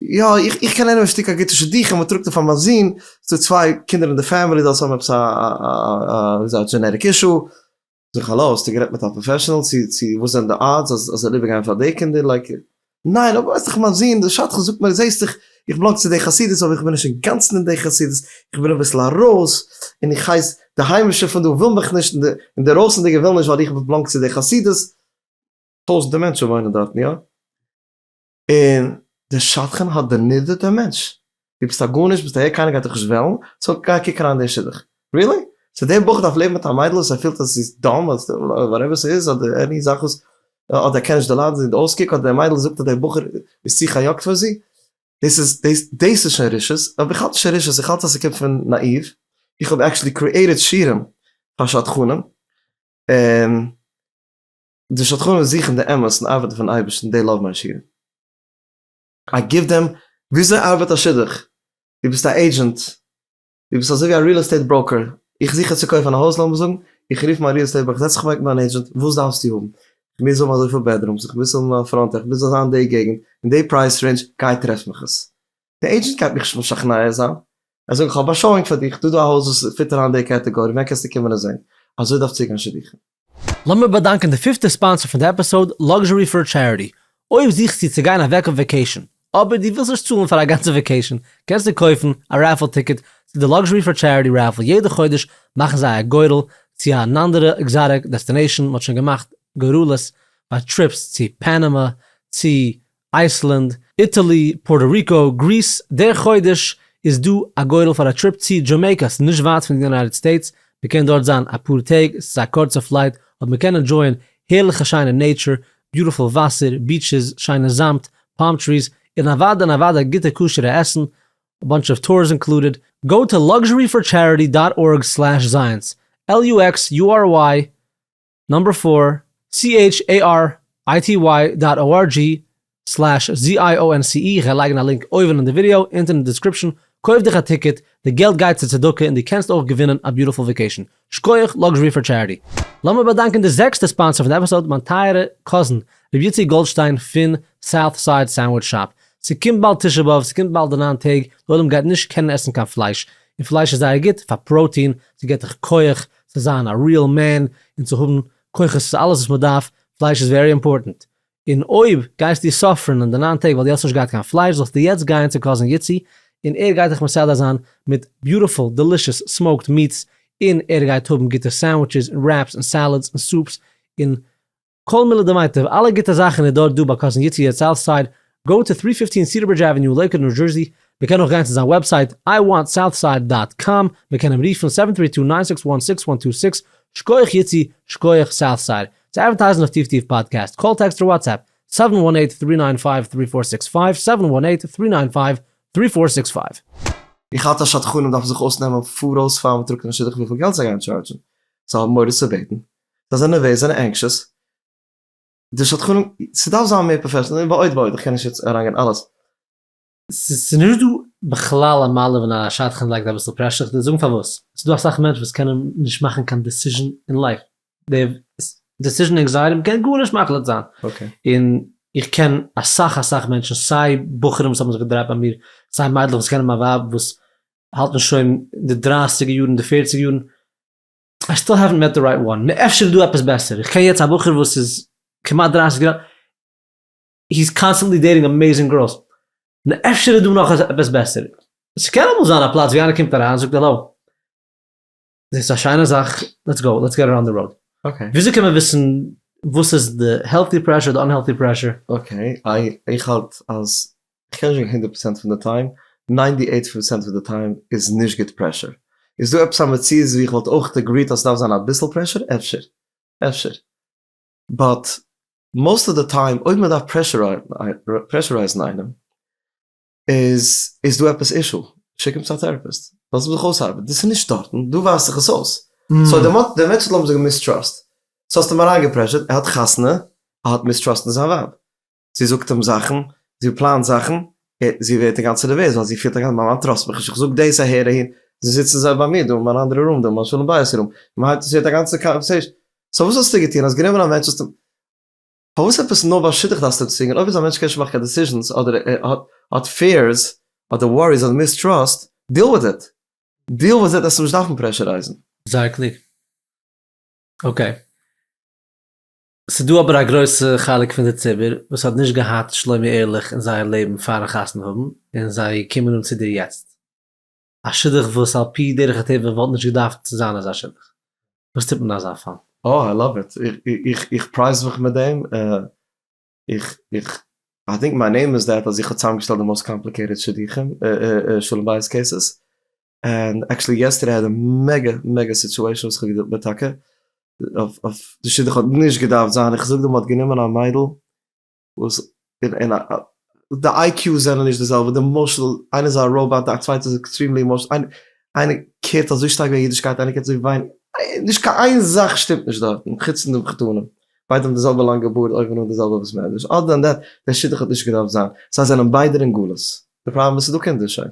יא איך קען איינעם א שטיק א גוטע שדכן, מען טראגט אים פאר מיין זון, ס'איז דא צוויי קינדער אין די פעמילי זיי האבן עפעס א וויאזוי א דזשענעריק אישו, זאג איך האלא האסטו גערעדט מיט א פראפעשענעל צו וואס זענען די אדס אז ער זאל איבערגיין פאר די קינדער, לייק ניין אבער ווייסט דאך מיין זון דער שדכן זאגט מיר זעהסט איך איך בלאנג צו די חסידות אבער איך בין נישט אינגאנצן אין די חסידות איך בין אביסל ארויס און איך הייס די היימישע פון דא ווילן מיך נישט און די אינדערויסענדיגע ווילן נישט ווייל איך בלאנג צו די חסידות. טויזענטער מענטשן וואוינען דארטן יא. און דער שדכן האט דערנידערט דעם מענטש דו ביסט א גארנישט ביסט אהער קיינער גייט דיך נישט וועלן סאו גיי קוק אריין אין די שידוך. ריעלי? סאו דער בחור דארף לעבן מיט א מיידל וואס ער פילט אז זי איז דאם אדער וואטעווער ס'איז אדער עני זאך וואס אדער ער קען נישט דערליידן זי אויסקוק אדער די מיידל זאגט אז דער בחור איז צו חיוקת פאר זי דאס איז דאס דאס איז שוין רשעות אבער איך האלט נישט אין רשעות איך האלט אז ס'קומט פון נאאיוו איך האב עקטשעלי קריעטעד שירעם פאר שדכנים און די שדכנים זוכן די אמת און ארבעטן פארן אייבערשטן דעי לאוו מיי שירעם. איי גיוו דעם, וויאזוי ארבעט א שידוך? דו ביסט א עידזשענט? דו ביסט אזויווי א ריעל עסטעיט בראוקער? איך זוך יעצט צו קויפן א הויז לאמיר זאגן, איך רוף מיין ריעל עסטעיט בראוקער, זעץ זיך אוועק מיט דיין עידזשענט, וואס דארפסטו האבן? איך מוז האבן אזויפיל בעדרומס, איך מוז האבן א פראנט, איך מוז זיין אין די געגנט, אין די פרייז רעינדזש, גיי טרעף מיך עס. די עידזשענט גייט מיך נישט משכנע זיין, ער זאגט איך האב א שאואינג פאר דיך, דא איז דא א הויז וואס פיט אריין די קעטעגארי, ווען קענסטו קומען עס זען? אזוי דארף צוגיין שידוכים. לאמיר באדאנקען די פיפטע ספאנסער פון די עפיסאוד, Luxury for Charity. אויב זוכסטו צו גיין אוועק אויף וואקעישאן, אבער דו ווילסט נישט צאלן פאר א גאנצע וואקעישאן, קענסטו קויפן א רעפעל טיקעט צו די Luxury for Charity רעפעל. יעדע חודש מאכן זיי א גורל צו אן אנדערע עקזאטיק דעסטינעישאן, מען האט שוין געמאכט גורלות פאר טריפס צו פאנאמא, צו אייסלענד, איטעלי, פארטא ריקא, גריס, דער חודש איז דא א גורל פאר א טריפ צי דזשעמעיקא, ס'איז נישט ווייט פון די יונייטעד סטעיטס, מ'קען דארט זיין אפאר טעג, ס'איז א קורצע פלייט, אבער מ'קען ענדזשויען הערליכע שיינע נעיטשור, ביוטיפול וואסער, ביטשעס, שיינע זאמד, פאלם טריס, און אוודאי און אוודאי גוטע כשר'ע עסן, א באנטש אוו טורס אינקלודעד, גאו טו לאקזשערי פאר טשעריטי דאט ארג סלעש זייענס, LUXURY, נאמבער פֿיר, CHARITY דאט ORG סלעש ZIONCE איך וועל לייגן א לינק אויבן אין די ווידעא, אונטן אין די דעסקריפשן, קויף דיך א טיקעט, די געלט גייט צו צדקה און דו קענסט אויך געווינען א ביוטיפול וואקעישן. שקויעך Luxury for Charity. לאמיר באדאנקען די זעקסטע ספאנסער פון די עפיסאד, מיין טייערע קאזין ר' איציק גאלדשטיין פון סאוט סייד סענדוויטש שאפ. ס'קומט באלד תשעה באב, ס'קומט באלד די ניין טעג, די עולם גייט נישט קענען עסן קיין פלייש, און פלייש איז זייער גוט פאר פראוטין, ס'געט דיך כח, צו זיין א ריעל מען און צו האבן כוחות צו אלעס וואס מען דארף, פלייש איז ווערי אימפארטענט, און אויב גייסטו סאפרען אין די נײַן טעג ווייל דו האסט נישט געהאט קיין פלייש זאלסטו יעצט גייען צו קאזין איצי און ער גייט דיך מסדר זיין מיט ביוטיפול דעלישעס סמאוקד מיעטס און ער גייט האבן גוטע סענדוויטשעס און רעפס און סעלעדס און סופס און כל מילה דמיטב, אלע גוטע זאכן איז דארט דא ביי קאזין יצי יעצט סאוט סייד, גאו טו טרי פיפטין סידערברידזש עוועניו לעיקוואד ניו זשערסי, מען קען אויך גיין צו זיין וועבסייט איי וואנט סאוט סייד דאט קאם, מען קען אים רופן סעווען טרי טו ניין סיקס וואן סיקס וואן טו סיקס, שקויעך יצי, שקויעך סאוט סייד, צו אדווערטייזן אויף טיף טיף פאדקעסט, קאל טעקסט אר וואטסעפפ, סעווען וואן עיט טרי ניין פייוו טרי פאר סיקס פייוו, סעווען וואן עיט טרי ניין פייוו טרי פאר סיקס פייוו. איך האלט אז שדכנים דארפן זיך אויסנעמען פאראויס פאר מ'טראגט אין א שידוך וויפיל געלט זיי גייען טשארדזשן, זאל מוהרא ש בעטן זיי זענען נערוועז, זיי זענען ענקשעס, די שדכנים, ס'דארף זיין מער פראפעשענעל, ועוד ועוד, איך קען נישט יעצט אריינגיין אלעס. ס'איז נישט דא בכלל א מעלה ווען א שדכן לייגט אביסל פרעשור, איך וועל דיר זאגן פארוואס, ס'איז דא אסאך מענטשן וואס קענען נישט מאכן קיין דעסיזשן אין לייף, די דעסיזשן ענקזייעטי, מ'קען גארנישט מחליט זיין, און איך קען אסאך אסאך מענטשן, סיי בחורים וואס האבן זיך געדרייט ביי מיר, סיי מיידלעך וואס קענען מיין ווייב וואס האלטן שוין אין די דרייסיגער יארן, אין די פערציגער יארן, איי סטיל העווענט מעט די רייט וואן, אפשר איז דא עפעס בעסער, איך קען יעצט א בחור וואס איז כמעט דרייסיג יאר, היז קאנסטענטלי דעיטינג אמעיזינג גערלס, אפשר איז דא נאך עפעס בעסער, ס'קען אמאל זיין א פלאץ ווי איינער קומט אריין זאגט העלאו, דאס איז א שיינע זאך, לעטס גאו, לעטס געט איט אן די ראוד. וויאזוי קען מען וויסן וואס איז די העלטי פרעשור, די אנהעלטי פרעשור? אקעי, איך האלט אז קען נישט גיין הונדערט פראצענט פון די טיים, ניינטי עיט פערסענט פון די טיים איז נישט גוט פרעשור. איז דא עפעס א מציאות ווי איך וואלט אויך עגריט אז ס'דארף זיין אביסל פרעשור? אפשר. אפשר. באט מאוסט אוו די טיים אויב מ'דארף פרעשורייזן איינעם איז איז דא עפעס אישו. שיק אים צו א טעראפיסט. לאז אים זיך אויסארבעטן. דאס איז נישט דארטן. דא ווייזט זיך עס אויס. סאו דער דער מענטש האט לאמיר זאגן מיסטראסט. ס'האסט אים אריינגעפרעשורט, ער האט חתונה, ער האט מיסטראסט אין זיין ווייב. זי זאגט אים זאכן, זי פלאנט זאכן, זי ווערט אינגאנצן נערוועז ווייל זי פילט אינגאנצן מיין מאן טראסט מיך נישט, איך זאג דאס אהער אהין, זיי זיצן זיי ביי מיר דא און מיין אנדערע רום דא און מיין שלום בית רום, און מען הייבט עס ווערט א גאנצע קאנווערסעישאן, סאו וואס האסטו געטון? האסט גענומען א מענטש האסט אים פארוואס עפעס נאר ביי שידוך דארפסטו אים צווינגען? אויב איז א מענטש קען נישט מאכן קיין דעסיזשענס אדער ער האט פיערס אדער וואריס אדער מיסטראסט, דיעל וויט איט, דיעל וויט איט, עס אים נישט דארפן פרעשורייזן. זייער קלוג. אקעי. ס'דא אבער א גרויסע חלק פון די ציבור וואס האט נישט געהאט שלומי ערליך אין זייער לעבן פארן חתונה האבן און זיי קומען אן צו דיר יעצט. א שידוך וואס על פי דרך הטבע וואלט נישט געדארפט צו זיין אזא שידוך. וואס טוט מען אין אזא פאל? אה איי לאוו איט, איך פרייז מיך מיט דעם, איך איך איי טינק מיי נעים איז דעט אז איך האב צוזאמגעשטעלט די מאוסט קאמפליקעיטעד שידוכים, שלום בית קעיסעס, און עקשעלי יעסטערדעי איי האד א מעגא מעגא סיטועשען וואס איך האב געדילט מיט טאקע אויף אויף די שידוך האט נישט געדארפט זיין איך זאג דא מען האט גענומען א מיידל וואס און און א די איי קיו זענען נישט די זעלבע די משל איינער איז א ראובאט די צווייטע איז עקסטרימלי אימאשענעל איינער איינער קערט אזוי שטארק וועגן אידישקייט איינער קערט אזוי ווייניג נישט קיין איין זאך שטימט נישט דארטן חוץ פון די מחותנים ביידע האבן די זעלבע לאנגע בארד אויבן אן די זעלבע וואס מען אדער דען דעט דער שידוך האט נישט געדארפט זיין זיי זענען ביידער אין גלות די פראבלעם איז ס'איז דא קינדער שוין.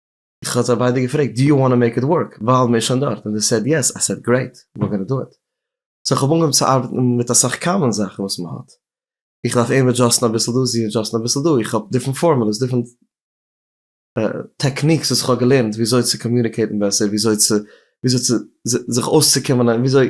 איך האב זיי ביידע געפרעגט דו יו וואנט טו מעיק איט ווארק ווייל מ'איז שוין דארט און זיי סעד יעס, איי סעד גרעיט וויר גאנא דא איט, סאו כ'האב אנגעהויבן צו ארבעטן מיט אסאך קאמאן זאכן וואס מ'האט, איך דארף אים עדזשאסטן אביסל דא זי עדזשאסטן אביסל דא, איך האב דיפרענט פארמולעס דיפרענט טעקניקס וואס כ'האב געלערנט וויאזוי צו קאמיוניקעיטן בעסער וויאזוי צו וויאזוי צו זיך אויסצוקומען וויאזוי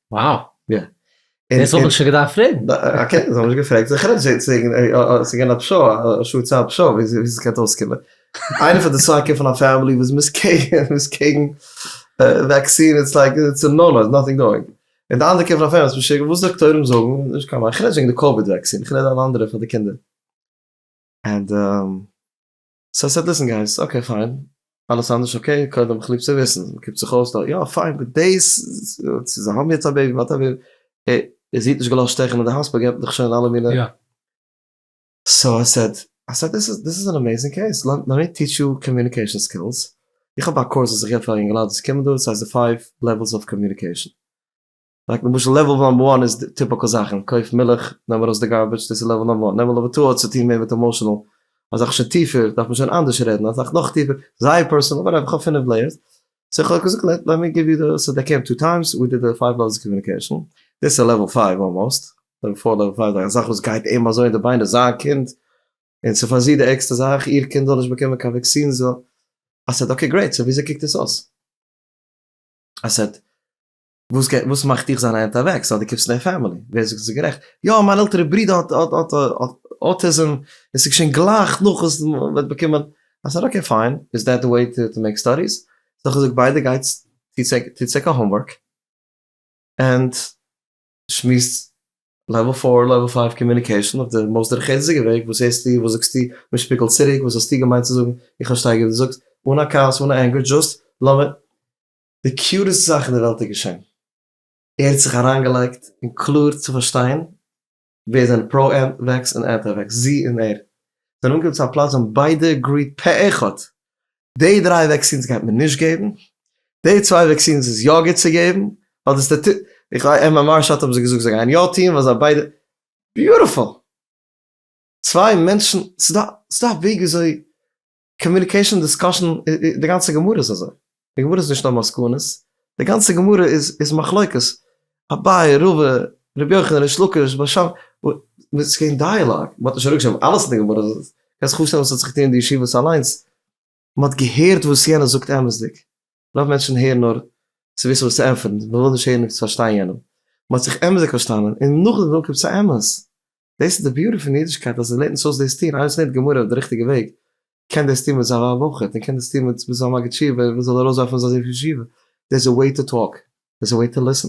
וואו! יא. דאס האב איך שוין געדארפט פרעגן. אקעי, זיי האבן נישט געפרעגט. זיך רעדט זיי צו וועגן ס'איז געווען א פשרה, א שעה צייט פשרה ווי ס'קען אויסקומען. איינער פון די סייד קומט פון א פעמילי וואס מ'איז קעגן, מ'איז קעגן וואקסין, איטס לייק איטס א נאו נאו, איטס נאטינג דואינג. און די אנדערע קומט פון א פעמילי וואס איז משוגע, וואס דאקטוירים זאגן איז נישט קיין מיין. כ'רעד נישט וועגן די קאוויד וואקסין, כ'רעד אן אנדערע פאר די קינדער. ענד. סא ס'העט וויסן גייסט, אקעי פיין, אלעס אנדערש אקעי, קודם כ'ליב צו וויסן, קומט זיך אויס דא, יא פיין, אבער דאס, צו זיי האבן יעצט א בעיבי, וואטעווער, און זי האט נישט געלאזט שטעכן אין די האספיטאל געבט מיך שוין אלע מינע, סא איי סעד, איי סעד דיס איז, דיס איז אן אמעיזינג קעיס, לעמי טיטש יו קאמיוניקעישאן סקילס, איך האב א קורס וואס איך געב פאר יונגעלייט וואס קומען דא, ס'הייסט די פייוו לעוועלס אוו קאמיוניקעישאן, לייק למשל לעוועל נאמבער וואן איז די טיפיקעל זאכן, קויף מילך, נעם ארויס די גארביטש, דאס איז לעוועל נאמבער וואן, לעוועל נאמבער טו האט צוטוהן מער מיט עמאשענעל, א זאך שוין טיפער דארף מען שוין אנדערש רעדן, א זאך נאך טיפער זייער פערסענעל, וואטעווער, איך האב פינף לעיערס, סאו איך האב געזאגט לעט מי גיוו יו די, סאו דעי קעים טו טיימס, ווי דיד די פייוו לעוועלס קאמיוניקעישן, דאס איז לעוועל פייוו אלמאסט, לעוועל פאר לעוועל פייוו, א זאך וואס גייט אים אזוי אין די ביינער, זיין קינד, און ס'איז פאר זי די ערגסטע זאך, איר קינד זאל נישט באקומען קיין וואקסין, זי זאל, א סעט, אקעי גרעיט, סאו וויאזוי קוקט עס אויס? א סעט. וואס גייט וואס מאכט דיך זיין היינט אוועק סא די קומסט אין די פאמילי ווער זאגט ס'איז גערעכט יא מיין עלטערע ברידער האט האט האט אוטיזם און ס'איז געשען גלייך נאך וואס מ'האט באקומען אז סארי אקעי פיין איז דעט די וועי טו טו מעיק סטאדיס האב איך געזאגט ביידע גייטס טוטס טוטס עיקר האומווארק ענד שמועסט לעוועל פאר לעוועל פייוו קאמיוניקעישאן אויף די מאסט דורכערציגע וועג וואס הערסטו וואס זאגסטו מען שפיגלט צוריק וואס האסטו געמיינט צו זאגן איך פארשטיי גוט די זאגסט אן א כעס אן א ענגער דזשאסט לאמיר די קיוטעסט זאך אין די וועלט איז געשען, ער האט זיך אריינגעלייגט אין קלאר צו פארשטיין ווער זענען פרא וועקס און אנטי וועקס, זי און ער זענען אנגעקומען צו א פלאץ ווי זיי האבן ביידע עגריעט פה אחד, די דריי וועקסינס גייט מען נישט געבן, די צוויי וועקסינס איז יא גוט צו געבן, ווייל דאס טוט איך וויי אין מיין מארש אוט האבן זיי געזאגט זיי גייען יא טון ווייל זיי ביידע, ביוטיפול! צוויי מענטשן, ס'איז דא א וועג וויאזוי קאמיוניקעישאן דיסקאשען די גאנצע גמרא איז אזוי, די גמרא איז נישט נאר מסקנות, די גאנצע גמרא איז איז מחלוקת, אביי רבא רבי יוחנן ריש לקיש בר שם, ס'איז געווען דייעלאג, מ'האט נישט אראפגעשריבן אלעס אין די גמרא, קענסט זיך פארשטעלן וואס האט זיך געטון אין די ישיבות אליינס, מ'האט געהערט וואס יענער זאגט אמת'דיג, רוב מענטשן הערן נאר צו וויסן וואס צו ענטפערן, מען וויל נישט הערן אויף צו פארשטיין יענעם. מען האט זיך אמת'דיג פארשטאנען און נאכדעם וויל קומט צו אמת. דאס איז די ביוטי פון אידישקייט אז עס לערנט אונז אויס דאס טון, איינער וואס לערנט גמרא אויף די ריכטיגע וועג קען דאס טון מיט זיין ווייב אויך און קען דאס טון מיט זיין מגיד שיעור ווען ער זאל ארויסווארפן זיין זון פון ישיבה, דער איז א וועי טו טאלק, דער איז א וועי טו ליסן.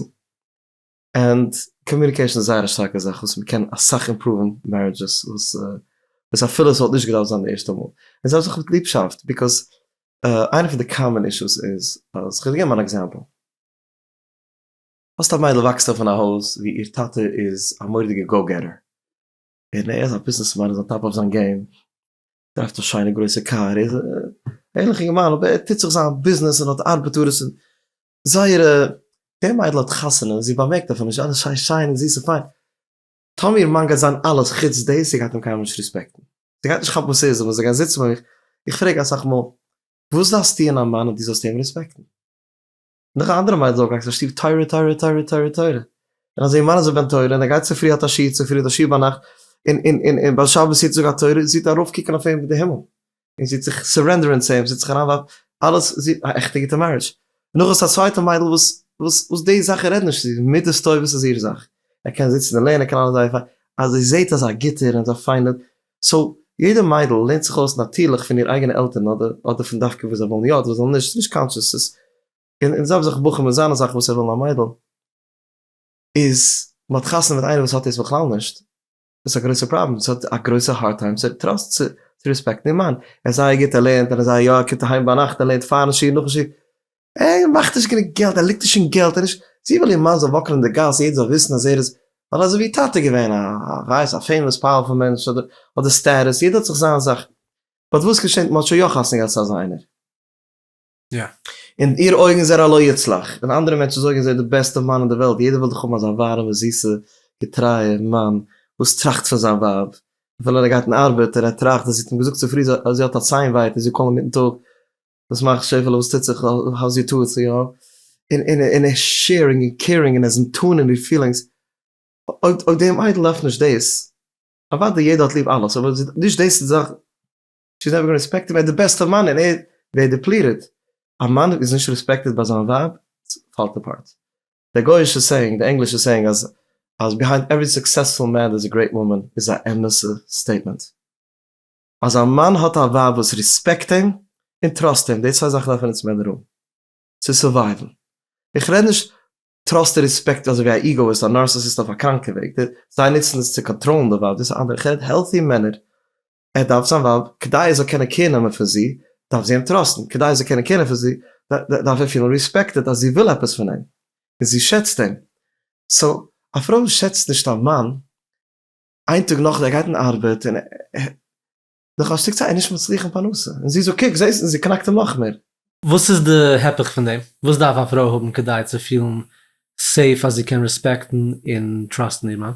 ענד קאמיוניקעישן איז זייער א שטארקע זאך וואס מ'קען אסאך אימפראווען מערידזשעס וואס וואס אפילו ס'וואלט נישט געדארפט זיין די ערשטע מאל און זיי האבן זיך מיט ליבשאפט ביקאוז איינע פון די קאמאן אישוס איז אז כ'וועל געבן אן עקזעמפל האסט א מיידל וואקסט אויף אין א הויז ווי איר טאטע איז א מורא'דיגע גאו געטער און ער איז א ביזנעס מאן ער איז אן טאפ אויף זיין געים דרייווט א שיינע גרויסע קאר ער איז א ערליכע געמאן אבער ער טוט זיך זיין ביזנעס און האט ארבעטארס און זייערע, דער מיידל האט חתונה, זי באמערקט אויף אים נישט, אלעס שיין שיין און זיס און פיין. טאמי איר מאן גייט זיין אלעס חוץ דאס, זי גייט אים קיינמאל נישט רעספעקטן. זי גייט נישט כאפן וואס ער איז און וואס זיי גייען זיצן ביי מיך. איך פרעג אסאך מאל, וואס זאלסטו אין א מאן אז דו זאלסט אים רעספעקטן? נאך א אנדערע מיידל איז אויפגעוואקסן אין שטוב תורה תורה תורה תורה תורה, און אז איר מאן איז א בן תורה און ער גייט צופרי האט א שיעור צופרי האט א שיעור ביינאכט און און און ביי שבת יעדן טאג א תורה, זי טאר ארויפקוקן אויף אים ווי די הימל. און זי האט זיך סורענדערען צו אים, זי האט זיך אריינווארפן, אלעס זי האט א עכטע גוטע מערידזש, נאך איז עס א צווייטע מיידל וואס וואס וואס די זאכן רעדט נישט צו זי, מידות טובות איז איר זאך, ער קען זיצן און לערנען, ער קען אלעס זייער פיין, אז זי זעהט אז א גוטער און אזא פיינער, סאו יעדע מיידל לערנט זיך אויס נאטירליך פון איר אייגענע עלטערן אדער אדער פון דווקא וואס זיי ווילן יא אדער וואס זיי ווילן נישט, ס'איז נישט קאנטשעס, ס'איז און און זעלבסט זאך בחורים, זיינע זאכן וואס ער וויל אין א מיידל, איז מ'האט חתונה מיט איינער וואס האט דאס בכלל נישט, דאס איז א גרויסע פראבלעם, דאס האט א גרויסע הארד טיים צו טראסט צו ריספעקטן איר מאן, ער איז זייער גוט ער לערנט און אזא יא ער קומט אהיים ביינאכט ער לערנט פארן שיעור נאכן שיעור, ער מאכט נישט גענוג געלט ער ליגט נישט אין געלט ער איז נישט, זי וויל איר מאן זאל וואקלען אין די גאס יעדער זאל וויסן אז ער איז ווייל אזוי ווי איר טאטע געווען א ווייס א פעימאס פאוערפול מענטש אדער אדער סטעטוס יעדער האט זיך זיין זאך, באט וואס געשענט מען האט שוין יא חתונה געהאט צו אזא איינער. אין איר אויגן איז ער א לא יצלח, און אנדערע מענטשן זאגן ער איז די בעסטע מאן אין די וועלט, יעדער וויל דאך האבן אזא ווארעמע זיסע געטרייע מאן וואס טראכט פון זיין ווייב, אפילו ער גייט אין ארבעט און ער טראכט אז זי האט אים געזאגט צופרי אז זי האט א ציין ווייט און זי קאלט אים מיטן טאג, וואס מאכסט שעפעלע וואס טוט זיך האוז יור טאטס יא, און ער איז שעירינג און קעירינג און ער איז נתון אין די פילינגס, אויב די מיידל דארף נישט דאס, אוודאי יעדער האט ליב אלעס אבער נישט דאס איז די זאך. שי איז נעווער גאון רעספעקטעד ביי די בעסט אוו מען און ער ווערט דיפליטעד, א מאן איז נישט רעספעקטעד ביי זיין ווייב פאלט אפארט, די גויאישע סעיאינג, די ענגלישע סעיאינג אז אז ביהיינד עווערי סוקסעספול מען דערס א גרעיט וואמען איז א אמת'ע סטעיטמענט. אז א מאן האט א ווייב וואס רעספעקט אים און טראסט אים, די צוויי זאכן דארפן אונז מענער האבן צו סורווייוון, איך רעד נישט טראסט און רעספעקט אזוי ווי א איגאאיסט א נארסעסיסט אויף א קראנקע וועג, זיי נוצן דאס צו קאנטראלן די ווייב דאס איז אנדערע, איך רעד העלטי מענער ער דארף זיין ווייב כדי ער זאל קענען קעיר נעמען פון זי, דארף זי אים טראסטן, כדי ער זאל קענען קעיר נעמען פון זי, דארף ער פילן ריספעקטעד אז זי וויל עפעס פון אים, און זי שעצט אים. סאו, א פרוי וואס שעצט נישט א מאן, איין טאג נאכדעם ער גייט אין ארבעט, און נאך א שטיק צייט ער איז נישט מצליח אין פרנסה, און זי זאגט קוק זעסט, און זי קנאקט אים נאך מער. וואס איז די היפוך פון דעם? וואס דארף א פרוי האבן כדי צו פילן סעיף אז זי קען ריספעקטן און טראסטן איר מאן?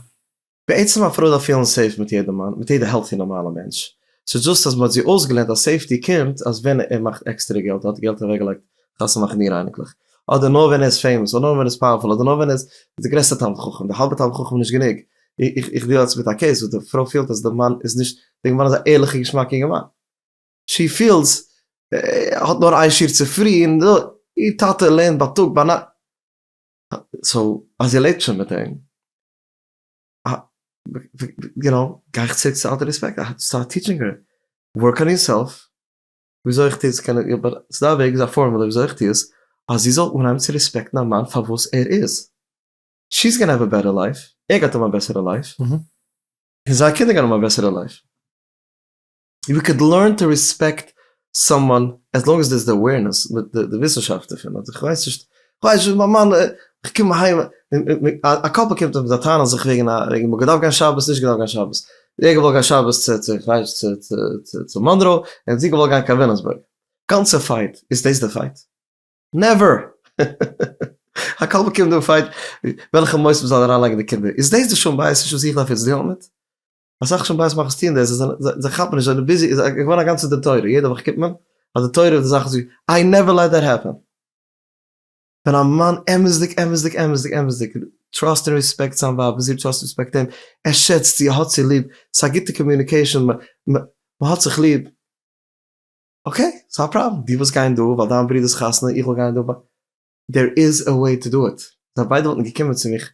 בעצם א פרוי דארף פילן סעיף מיט יעדע מאן, מיט יעדע העלטי נארמאלע מענטש, ס'איז דזשאסט אז מ'האט זי אויסגעלערנט אז סעיפטי קומט אז ווען ער מאכט עקסטערע געלט, ער האט געלט אוועקגעלייגט חתונה מאכן איר אייניקלעך, אדער נאר ווען ער איז פעימאס, אדער נאר ווען ער איז פאוערפול, אדער נאר ווען ער איז די גרעסטע תלמיד חכם, די האלבע תלמיד חכם איז נישט גענוג, איך דיעל יעצט מיט א קעיס וואס די פרוי פילט אז די מאן איז נישט, די מאן איז א ערליכע געשמאקע אינגערמאן, שי פיעלס ער האט נאר איין שיעור צופרי און איר טאטע לערנט בייטאג ביינאכט, סאו אז איר לעבט שוין מיט אים יו נאו, גיי איך צוריק צו אלטע רעספעקט, סטארט טיטשינג הער, ווארק אן יורסעלף, וויאזוי איך טו עס קען איך, באט ס'דא א וועג, ס'דא א פארמולע וויאזוי איך טו עס, אז זי זאל אנהייבן צו רעספעקטן א מאן פאר וואס ער איז, שי איז גאנע העוו א בעטער לייף, ער גייט האבן א בעסערע לייף, און זיינע קינדער גייען האבן א בעסערע לייף. יו קען לערן טו ריספעקט סאמאן עז לאנג עז דער איז די אווערנעס, די וויסנשאפט דערפון, אדער כ'ווייס נישט, כ'ווייס נישט, מיין מאן, כ'קום אהיים, א קאפל קומט אויף מיט א טענה זיך וועגן א, וועגן מאן געדארפט גיין שבת, נישט געדארפט גיין שבת, ער האט געוואלט גיין שבת צו, צו כ'ווייס נישט, צו, צו, צו, צו מאנרא, און זי האט געוואלט גיין קיין וויליאמסבורג, גאנצע פייט, איז דאס די פייט? נעווער! א קאפל קומט און פייט וועלכע מוסד מ'זאל אריינלייגן די קינדער, איז דאס די שלום בית אישו וואס איך דארף יעצט דילן מיט? אסאך שום בית מאכערס טוען דאס, זיי כאפן נישט אז די ביזי איז געווארן א גאנצע די תורה, יעדע וואך קומט מען אז די תורה די זאך איז געווען, איי נעווער לעט דעט העפען. ווען א מאן אמת'דיג אמת'דיג אמת'דיג אמת'דיג טראסט און רעספעקט זיין ווייב און זי טראסט און רעספעקט אים, ער שעצט זי, ער האט זי ליב, ס'איז א גוטע קאמיוניקעישאן, מ'האט זיך ליב, אקעי, ס'איז א פראבלעם, דו ווילסט גיין דא ווייל דיין ברודער'ס חתונה, איך וויל גיין דא ווייל, דער איז א וועי טו דו איט, זיי ביידע וואלטן געקומען צו מיך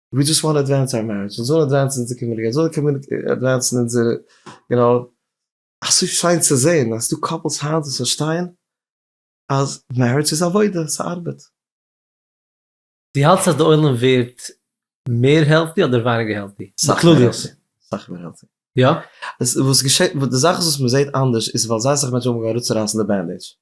ווי דזשאסט וואנט עדווענס אווער מערידזש, אונז זאל עדווענסן אונזער קאמיוניטי, אונז זאל עדווענסן אונזער, יו נאו, אזוי שיין צו זען אז ס'דא קאפלס היינט וואס פארשטייען אז מערידזש איז עבודה, ס'ארבעט. דו האלטסט אז די עולם ווערט מער העלטי אדער ווייניגער העלטי? בכלליות. סאך מער העלטי. יא? וואס געשעט, די זאך איז וואס מ'זעט אנדערש איז ווייל זייער סאך מענטשן האבן אנגעהויבן אראפצורייסן די בענדעידזש.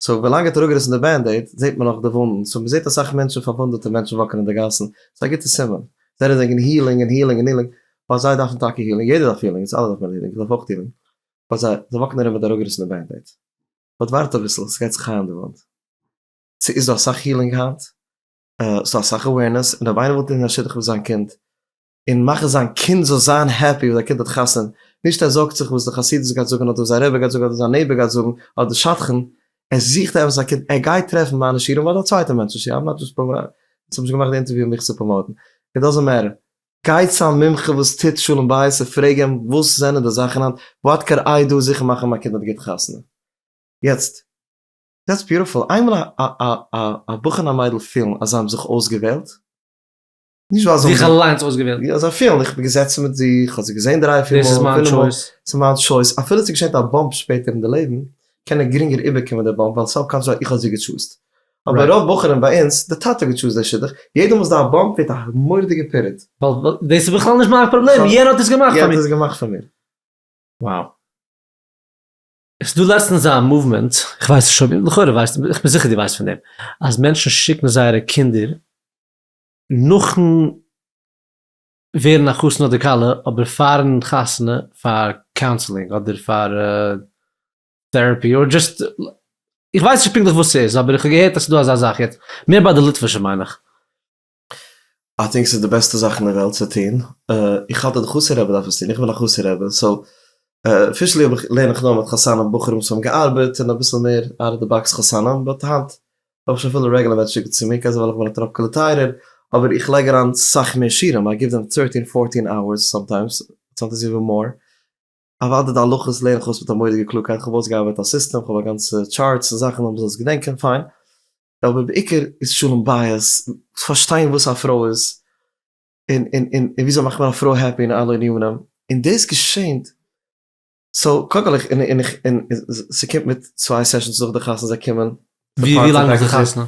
סאו ווילאנג ער האט אראפגעריסן די בענדעיד זעהט מען נאך די וואונדן, סאו מ'זעהט אסאך מענטשן פארוואונדעטע מענטשן וואקן אין די גאסן, ס'איז א גוטע סימן, זיי רעדן וועגן הילינג און הילינג און הילינג, ווייל זיי דארפן טאקע הילינג, יעדער דארף הילינג, אונז אלע דארף מען הילינג, איך דארף אויך הילינג, באט זיי זיי וואקן ארום מיט די אראפגעריסענע בענדעיד, באט ווארט אביסל, ס'גייט זיך היילן די וואונד, ס'איז דא אסאך הילינג היינט, ס'איז דא אסאך אווערנעס, און אויב איינער וויל טון א שידוך פאר זיין קינד, און מאכן זיין קינד זאל זיין העפי וואס זיין קינד האט חתונה, נישט ער זארגט זיך וואס די חסידות גייט זאגן אדער וואס זיין רבי גייט זאגן אדער זיין נעבער גייט זאגן אדער די שדכן, ער זוכט עפעס א קינד, ער גייט טרעפן מיינע שיעורים אדער א צווייטע מענטש'ס שיעור, איים נאט דזשאסט פראמאוטינג, איך האב נישט געמאכט די אינטערוויו מיך צו פראמאוטן, איט דאזענט מעטער, גיי צו א מומחה וואס טוט שלום בית און פרעג אים וואס זענען די זאכן היינט, וואט קען איי דא זיכער מאכן מיין קינד האט גוט חתונה. יעצט, דעטס ביוטיפול, איינמאל א בחור און א מיידל פילן אז זיי האבן זיך אויסגעוועלט, נישט ווייל זיי האבן זיך אליינס אויסגעוועלט. יא זיי פילן, איך בין געזעצן מיט זיך, איך האב זיי געזען דריי פיר מאל. דאס איז מיין טשויס. ס'איז מיין טשויס. אפילו ס'איז געשענט א באמפ שפעטער אין די לעבן, קען ער גרינגער איבערקומען די באמפ, ווייל סאו קאלד שוין איך האב זי געטשוזט. אבער רוב בחורים ביי אונז, די טאטע האט געטשוזט די שידוך, יעדע מאל ס'דא א באמפ ווערט א מורא'דיגע פירוד. ווייל דאס איז בכלל נישט מיין פראבלעם, יענער האט עס געמאכט פאר מיר. יענער האט עס געמאכט פאר מיר. Wow. עס איז דא לעצטנס א מאוומענט, איך ווייס נישט אויב, לכאורה ווייסטו, איך בין זיכער דו ווייסט פון דעם, אז מענטשן שיקן זייערע קינדער נאכן ווערן א חתן אדער כלה, אבער פארן חתונה פאר קאונסעלינג אדער פאר טעראפי אדער דזשאסט, איך ווייס נישט פונקטליך וואס ס'איז אבער איך האב געהערט אז ס'איז דא אזא זאך יעצט, מער ביי די ליטווישע מיין איך. איי טינק ס'איז די בעסטע זאך אין די וועלט צו טון, איך האלט אז די חסיד רבי דארף עס טון, איך בין א חסיד רבי סאו אפישעלי האב איך לערן איך נאר מיט חתנים בחורים וואס האבן געארבעט און אביסל מער אוט אוו די באקס חתנים באט היינט האב איך שוין פילע רעגלעמענטס שיקט צו מיר, כעזער ווייל איך בין א טראפקעלע טייערער, אבער איך לייג אריין סאך מער שירים, איי גיוו דעם טרעטין פארטין אוערס, סאמטיימס, סאמטיימס איווען מאר, אוודאי די הלכות לערן איך אויס מיט א מורא'דיגע קלארקייט, כ'האב אויסגעארבייט א סיסטעם, כ'האב א גאנצע טשארטס און זאכן אז מען זאל עס געדענקען, פיין, אבער בעיקר איז שלום בית, פארשטיין וואס א פרוי איז, און און און וויאזוי מאכט מען א פרוי העפי און אלע ענינים, און דאס געשענט סאו קודם כל איך און און איך און ס'קומט מיט צוויי סעשאנס נאך די חתונה זיי קומען. ווי ווי לאנג נאך די חתונה?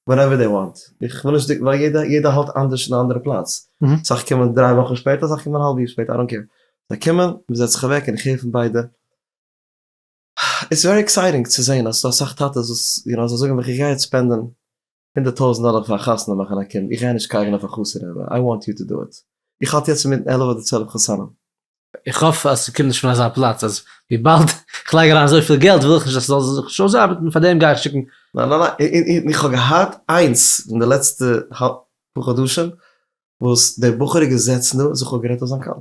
ווענעווער דעי וואנט, איך וויל נישט ווייל יעדע יעדע האלט אנדערש אין א אנדערע פלאץ, אסאך קומען דריי וואכן שפעטער אסאך קומען האלב יאר שפעטער איי דאנט קעיר, זיי קומען מ'זעצט זיך אוועק און איך הער פון ביידע, איטס ווערי עקסייטינג צו זעהן אז ס'דא אסאך טאטעס וואס יו נאו זיי זאגן ווען כ'גיי יעצט ספענדען הונדערט טויזענט דאלער פאר א חתונה מאכן א קינד, איך גיי נישט קייגען אויף א חתונה רבי, איי וואנט יו טו דו איט, איך האלט יעצט אינמיטן עלף אדער צוועלף חתנים. איך האף אז ס'קומט נישט פון אזא פלאץ אז וויבאלד איך לייג אריין אזויפיל געלט וויל איך נישט אז ס'זאל זיך נישט אויסארבעטן פאר דעם גיי איך שיקן. ניין ניין ניין, איך האב געהאט איינס אין די לעצטע פאר חדשים וואס דער בחור איז געזעצן דא און זיך אפגערעדט אויף זיין קאלער.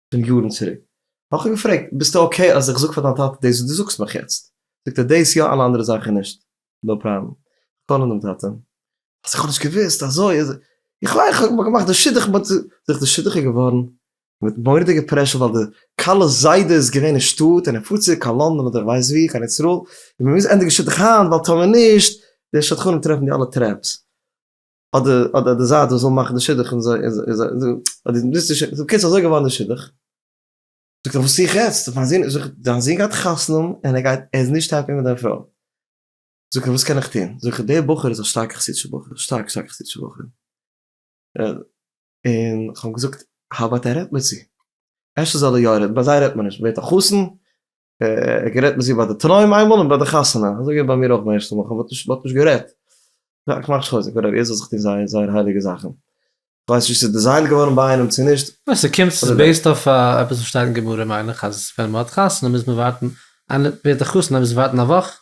פון יארן צוריק, האב איך אים געפרעגט, ביסטו אקעי אז איך זאג פאר דיין טאטע דאס וואס דו זאגסט מיך יעצט? זאגט ער, דאס יא, אלע אנדערע זאכן נישט. נאו פראבלעם. קאלן דעם טאטע. אז איך האב נישט געוואוסט אזוי איז ער. איך מיין איך האב געמאכט די שידוך מיט. זאגט די שידוך איז געווארן מיט מורא'דיגע פרעשור ווייל די כלה'ס זיידע איז געווען אין שטאט און ער פארט צוריק קיין לאנדאן אדער כ'ווייס וואו, קיין איזראעל, און מ'מוז ענדיגן שידוך היינט ווייל טאמער נישט די שדכנים טרעפן די אלע טרעפס. אדער אדער די זייט וואס וויל מאכן די שידוך און זיי זאגט קיצור אזוי געווארן די שידוך, זאגט ער וואס זיך יעצט מיין זון, זאגט דיין זון גייט חתונה און ער גייט ער איז נישט העפי מיט דיין פרוי, זאגט ער וואס קען איך טון, זאגט ער דער בחור איז א שטארקע חסידישע בחור, שטארק שטארק חסידישע בחור, און כ'האב געזאגט האו אבאוט ער רעדט מיט זי, אפשר זאל ער יא רעדן, ביי זיי רעדט מען נישט, ווערט א חתן, ער גערעדט מיט זי ביי די תנאים איינמאל און ביי די חתונה, אזוי געווען ביי מיר אויך ביי ערשטע מאל, כ'האב נישט מ'האט נישט גערעדט, יא כ'מאך נישט חוזק וואטעווער, יעדער זאל זיך טון זיין זייער הייליגע זאכן, כ'ווייס נישט צו ס'איז דעזיינט געווארן ביי איינעם צו נישט. ניין ס'קומט ס'איז בעיסד אויף עפעס וואס שטייט אין גמרא מיין איך אז ווען מ'האט חתונה מוז מען ווארטן, איינער ווערט א חתן אז מ'זאל ווארטן א וואך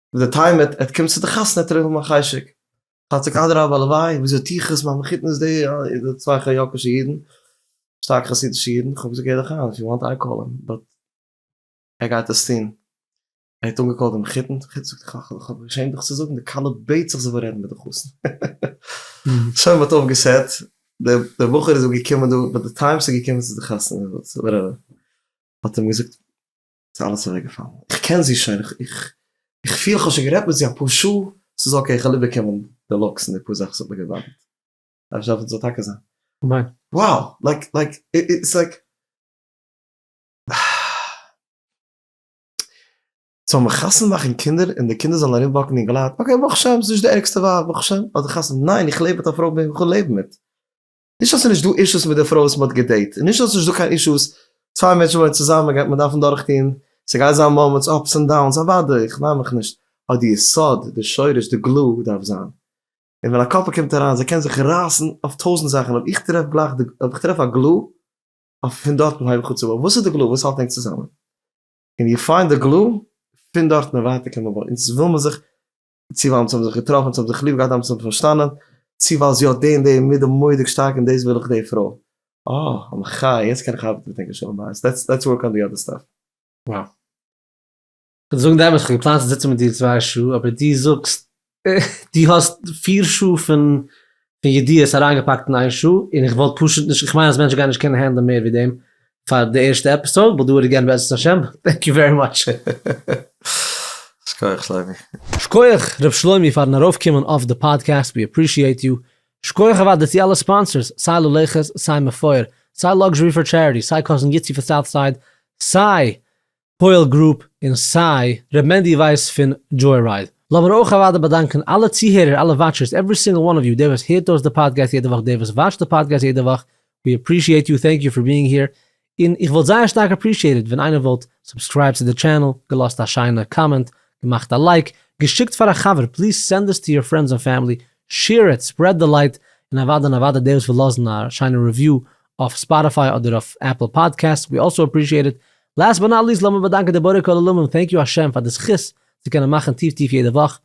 די טעם עט עט קומט צו די חתונה עט ער האבן א חשק חצק אדרבה הלוואי וויאזוי טו איך עס מיין מחותן איז די צוויי ח י'קשע אידן שטארק חסידישע אידן כ'האב געזאגט גיי דיך איין איף יו וואנט איי קאל אים באט ער גייט עס טון ער האט אנגעקאלט די מחותן די מחותן זאגט איך האב געשעמט דיך צו זאגן די כלה בעט זיך זי וויל רעדן מיט די חתן שוין מ'האט אויף געסעט די בחור איז געקומען דא באט די טיים ס'איז געקומען צו די חתונה וואטס עווער האט אים געזאגט ס'איז אלעס אוועק געפאלן. איך קען זי שוין, איך פיל כ'האב שוין גערעדט מיט זי אפאר שעה, ס'איז אקעי כ'וועל איבערקומען די לוקס און די פאר זאכן ס'האט מיר געבאדערט. דארף נישט האפן ס'זאל טאקע זיין. ניין. Wow! לייק לייק איטס לייק. זאל מען חתונה מאכן קינדער און די קינדער זאלן ארום וואקן און געלייט, אקעי ברוך השם ס'נישט די ערגסטע ווייב ברוך השם אדער חתונה, ניין איך לעב מיט א פרוי וועם כ'וויל לעבן מיט. נישט אז ס'איז נישט דא אישוס מיט די פרוי וואס מ'האט געדעיט, און נישט אז ס'נישט דא קיין אישוס, צוויי מענטשן וואוינען צוזאמען גייט מען דארפן דורכטון, ס'גייט זיין מאמענטס, אפס און דאונס, אוודאי, איך מיין מיך נישט, אבער די יסוד, די שורש, די גלו דארף זיין. און ווען א קאפל קומט אריין, זיי קענען זיך רייסן אויף טויזנט זאכן, אויב איך טרעף גלייך די, אויב איך טרעף א גלו, אויף פון דארטן הייב איך אן צו בויען, וואס איז די גלו וואס האלט ענק צוזאמען? און יו פיינד די גלו, פון דארטן און ווייטער קען מען בויען, אונז וויל מען זיך צי ווייל אונז האבן זיך געטראפן, אונז האבן זיך ליב געהאט, אונז האבן פארשטאנען, צי ווייל זי האט די און די מידה מורא'דיג שטארק און דאס וויל איך די פרוי. אה, א מחיה, יעצט קען איך ארבעטן מיט ענקער שלום בית, לעטס ווארק אן די אדער סטאף. וואו. כ'וועל דיר זאגן די אמת, כ'האב געפלאנט צו זיצן מיט דיר צוויי שעה, אבער דו זאגסט דו האסט פיר שעה פון פון ידיעות אריינגעפאקט אין איין שעה, און איך וואלט פשוט נישט, איך מיין אז מענטשן גייען נישט קענען הענדלען מער ווי דעם פאר די ערשטע עפיסאוד, וויל דא איט עגעין בעזרת השם, טענק יו ווערי מאטש. שכוח שלומי. שכוח ר' שלומי פארן ארויף קומען אויף די פאדקעסט ווי עפרישיעט יו, שכוח אוודאי צו אלע ספאנסערס סיי ללכת סיי מפואר סיי לאקזשערי פאר טשעריטי סיי קאזין גיטסי פון סאוט סייד סיי פועל גרופ און סיי ר' מענדי ווייס פון דזשוי רייד. לאמיר אויך אוודאי באדאנקען אלע צוהערער אלע וואטשערס עווערי סינגל וואן אוו יו דער וואס הערט אויס די פאדקעסט יעדע וואך דער וואס וואטשט די פאדקעסט יעדע וואך ווי עפרישיעט יו טענק יו פאר ביאינג העיר און איך וואלט זייער שטארק עפרישיעטעד ווען איינער וואלט סובסקרייבט צו די טשענעל געלאזט א שיינע קאמענט געמאכט א לייק געשיקט פאר א חבר פליז סענד עס טו יור פרענדס און פעמילי שעיר איט ספרעד די לייט און אוודאי און אוודאי דער וואס וויל לאזן א שיינע רעוויו אויף ספאטיפיי אדער אויף עפל פאדקעסט ווי אלסאו עפרישיעט איט לאסט באט נאט ליסט לאמיר באדאנקען די בורא כל עולמים טענק יו השם פאר די זכות צו קענען מאכן טיף טיף יעדע וואך,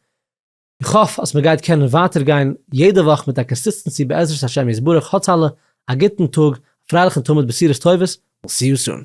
איך האף אז מ'גייט קענען ווייטער גיין יעדע וואך מיט א קאנסיסטענסי בעזרת השם יתברך, האטס אלע א גוטן טאג, א פרייליכן תמיד בשורות טובות, וויל סי יו סון.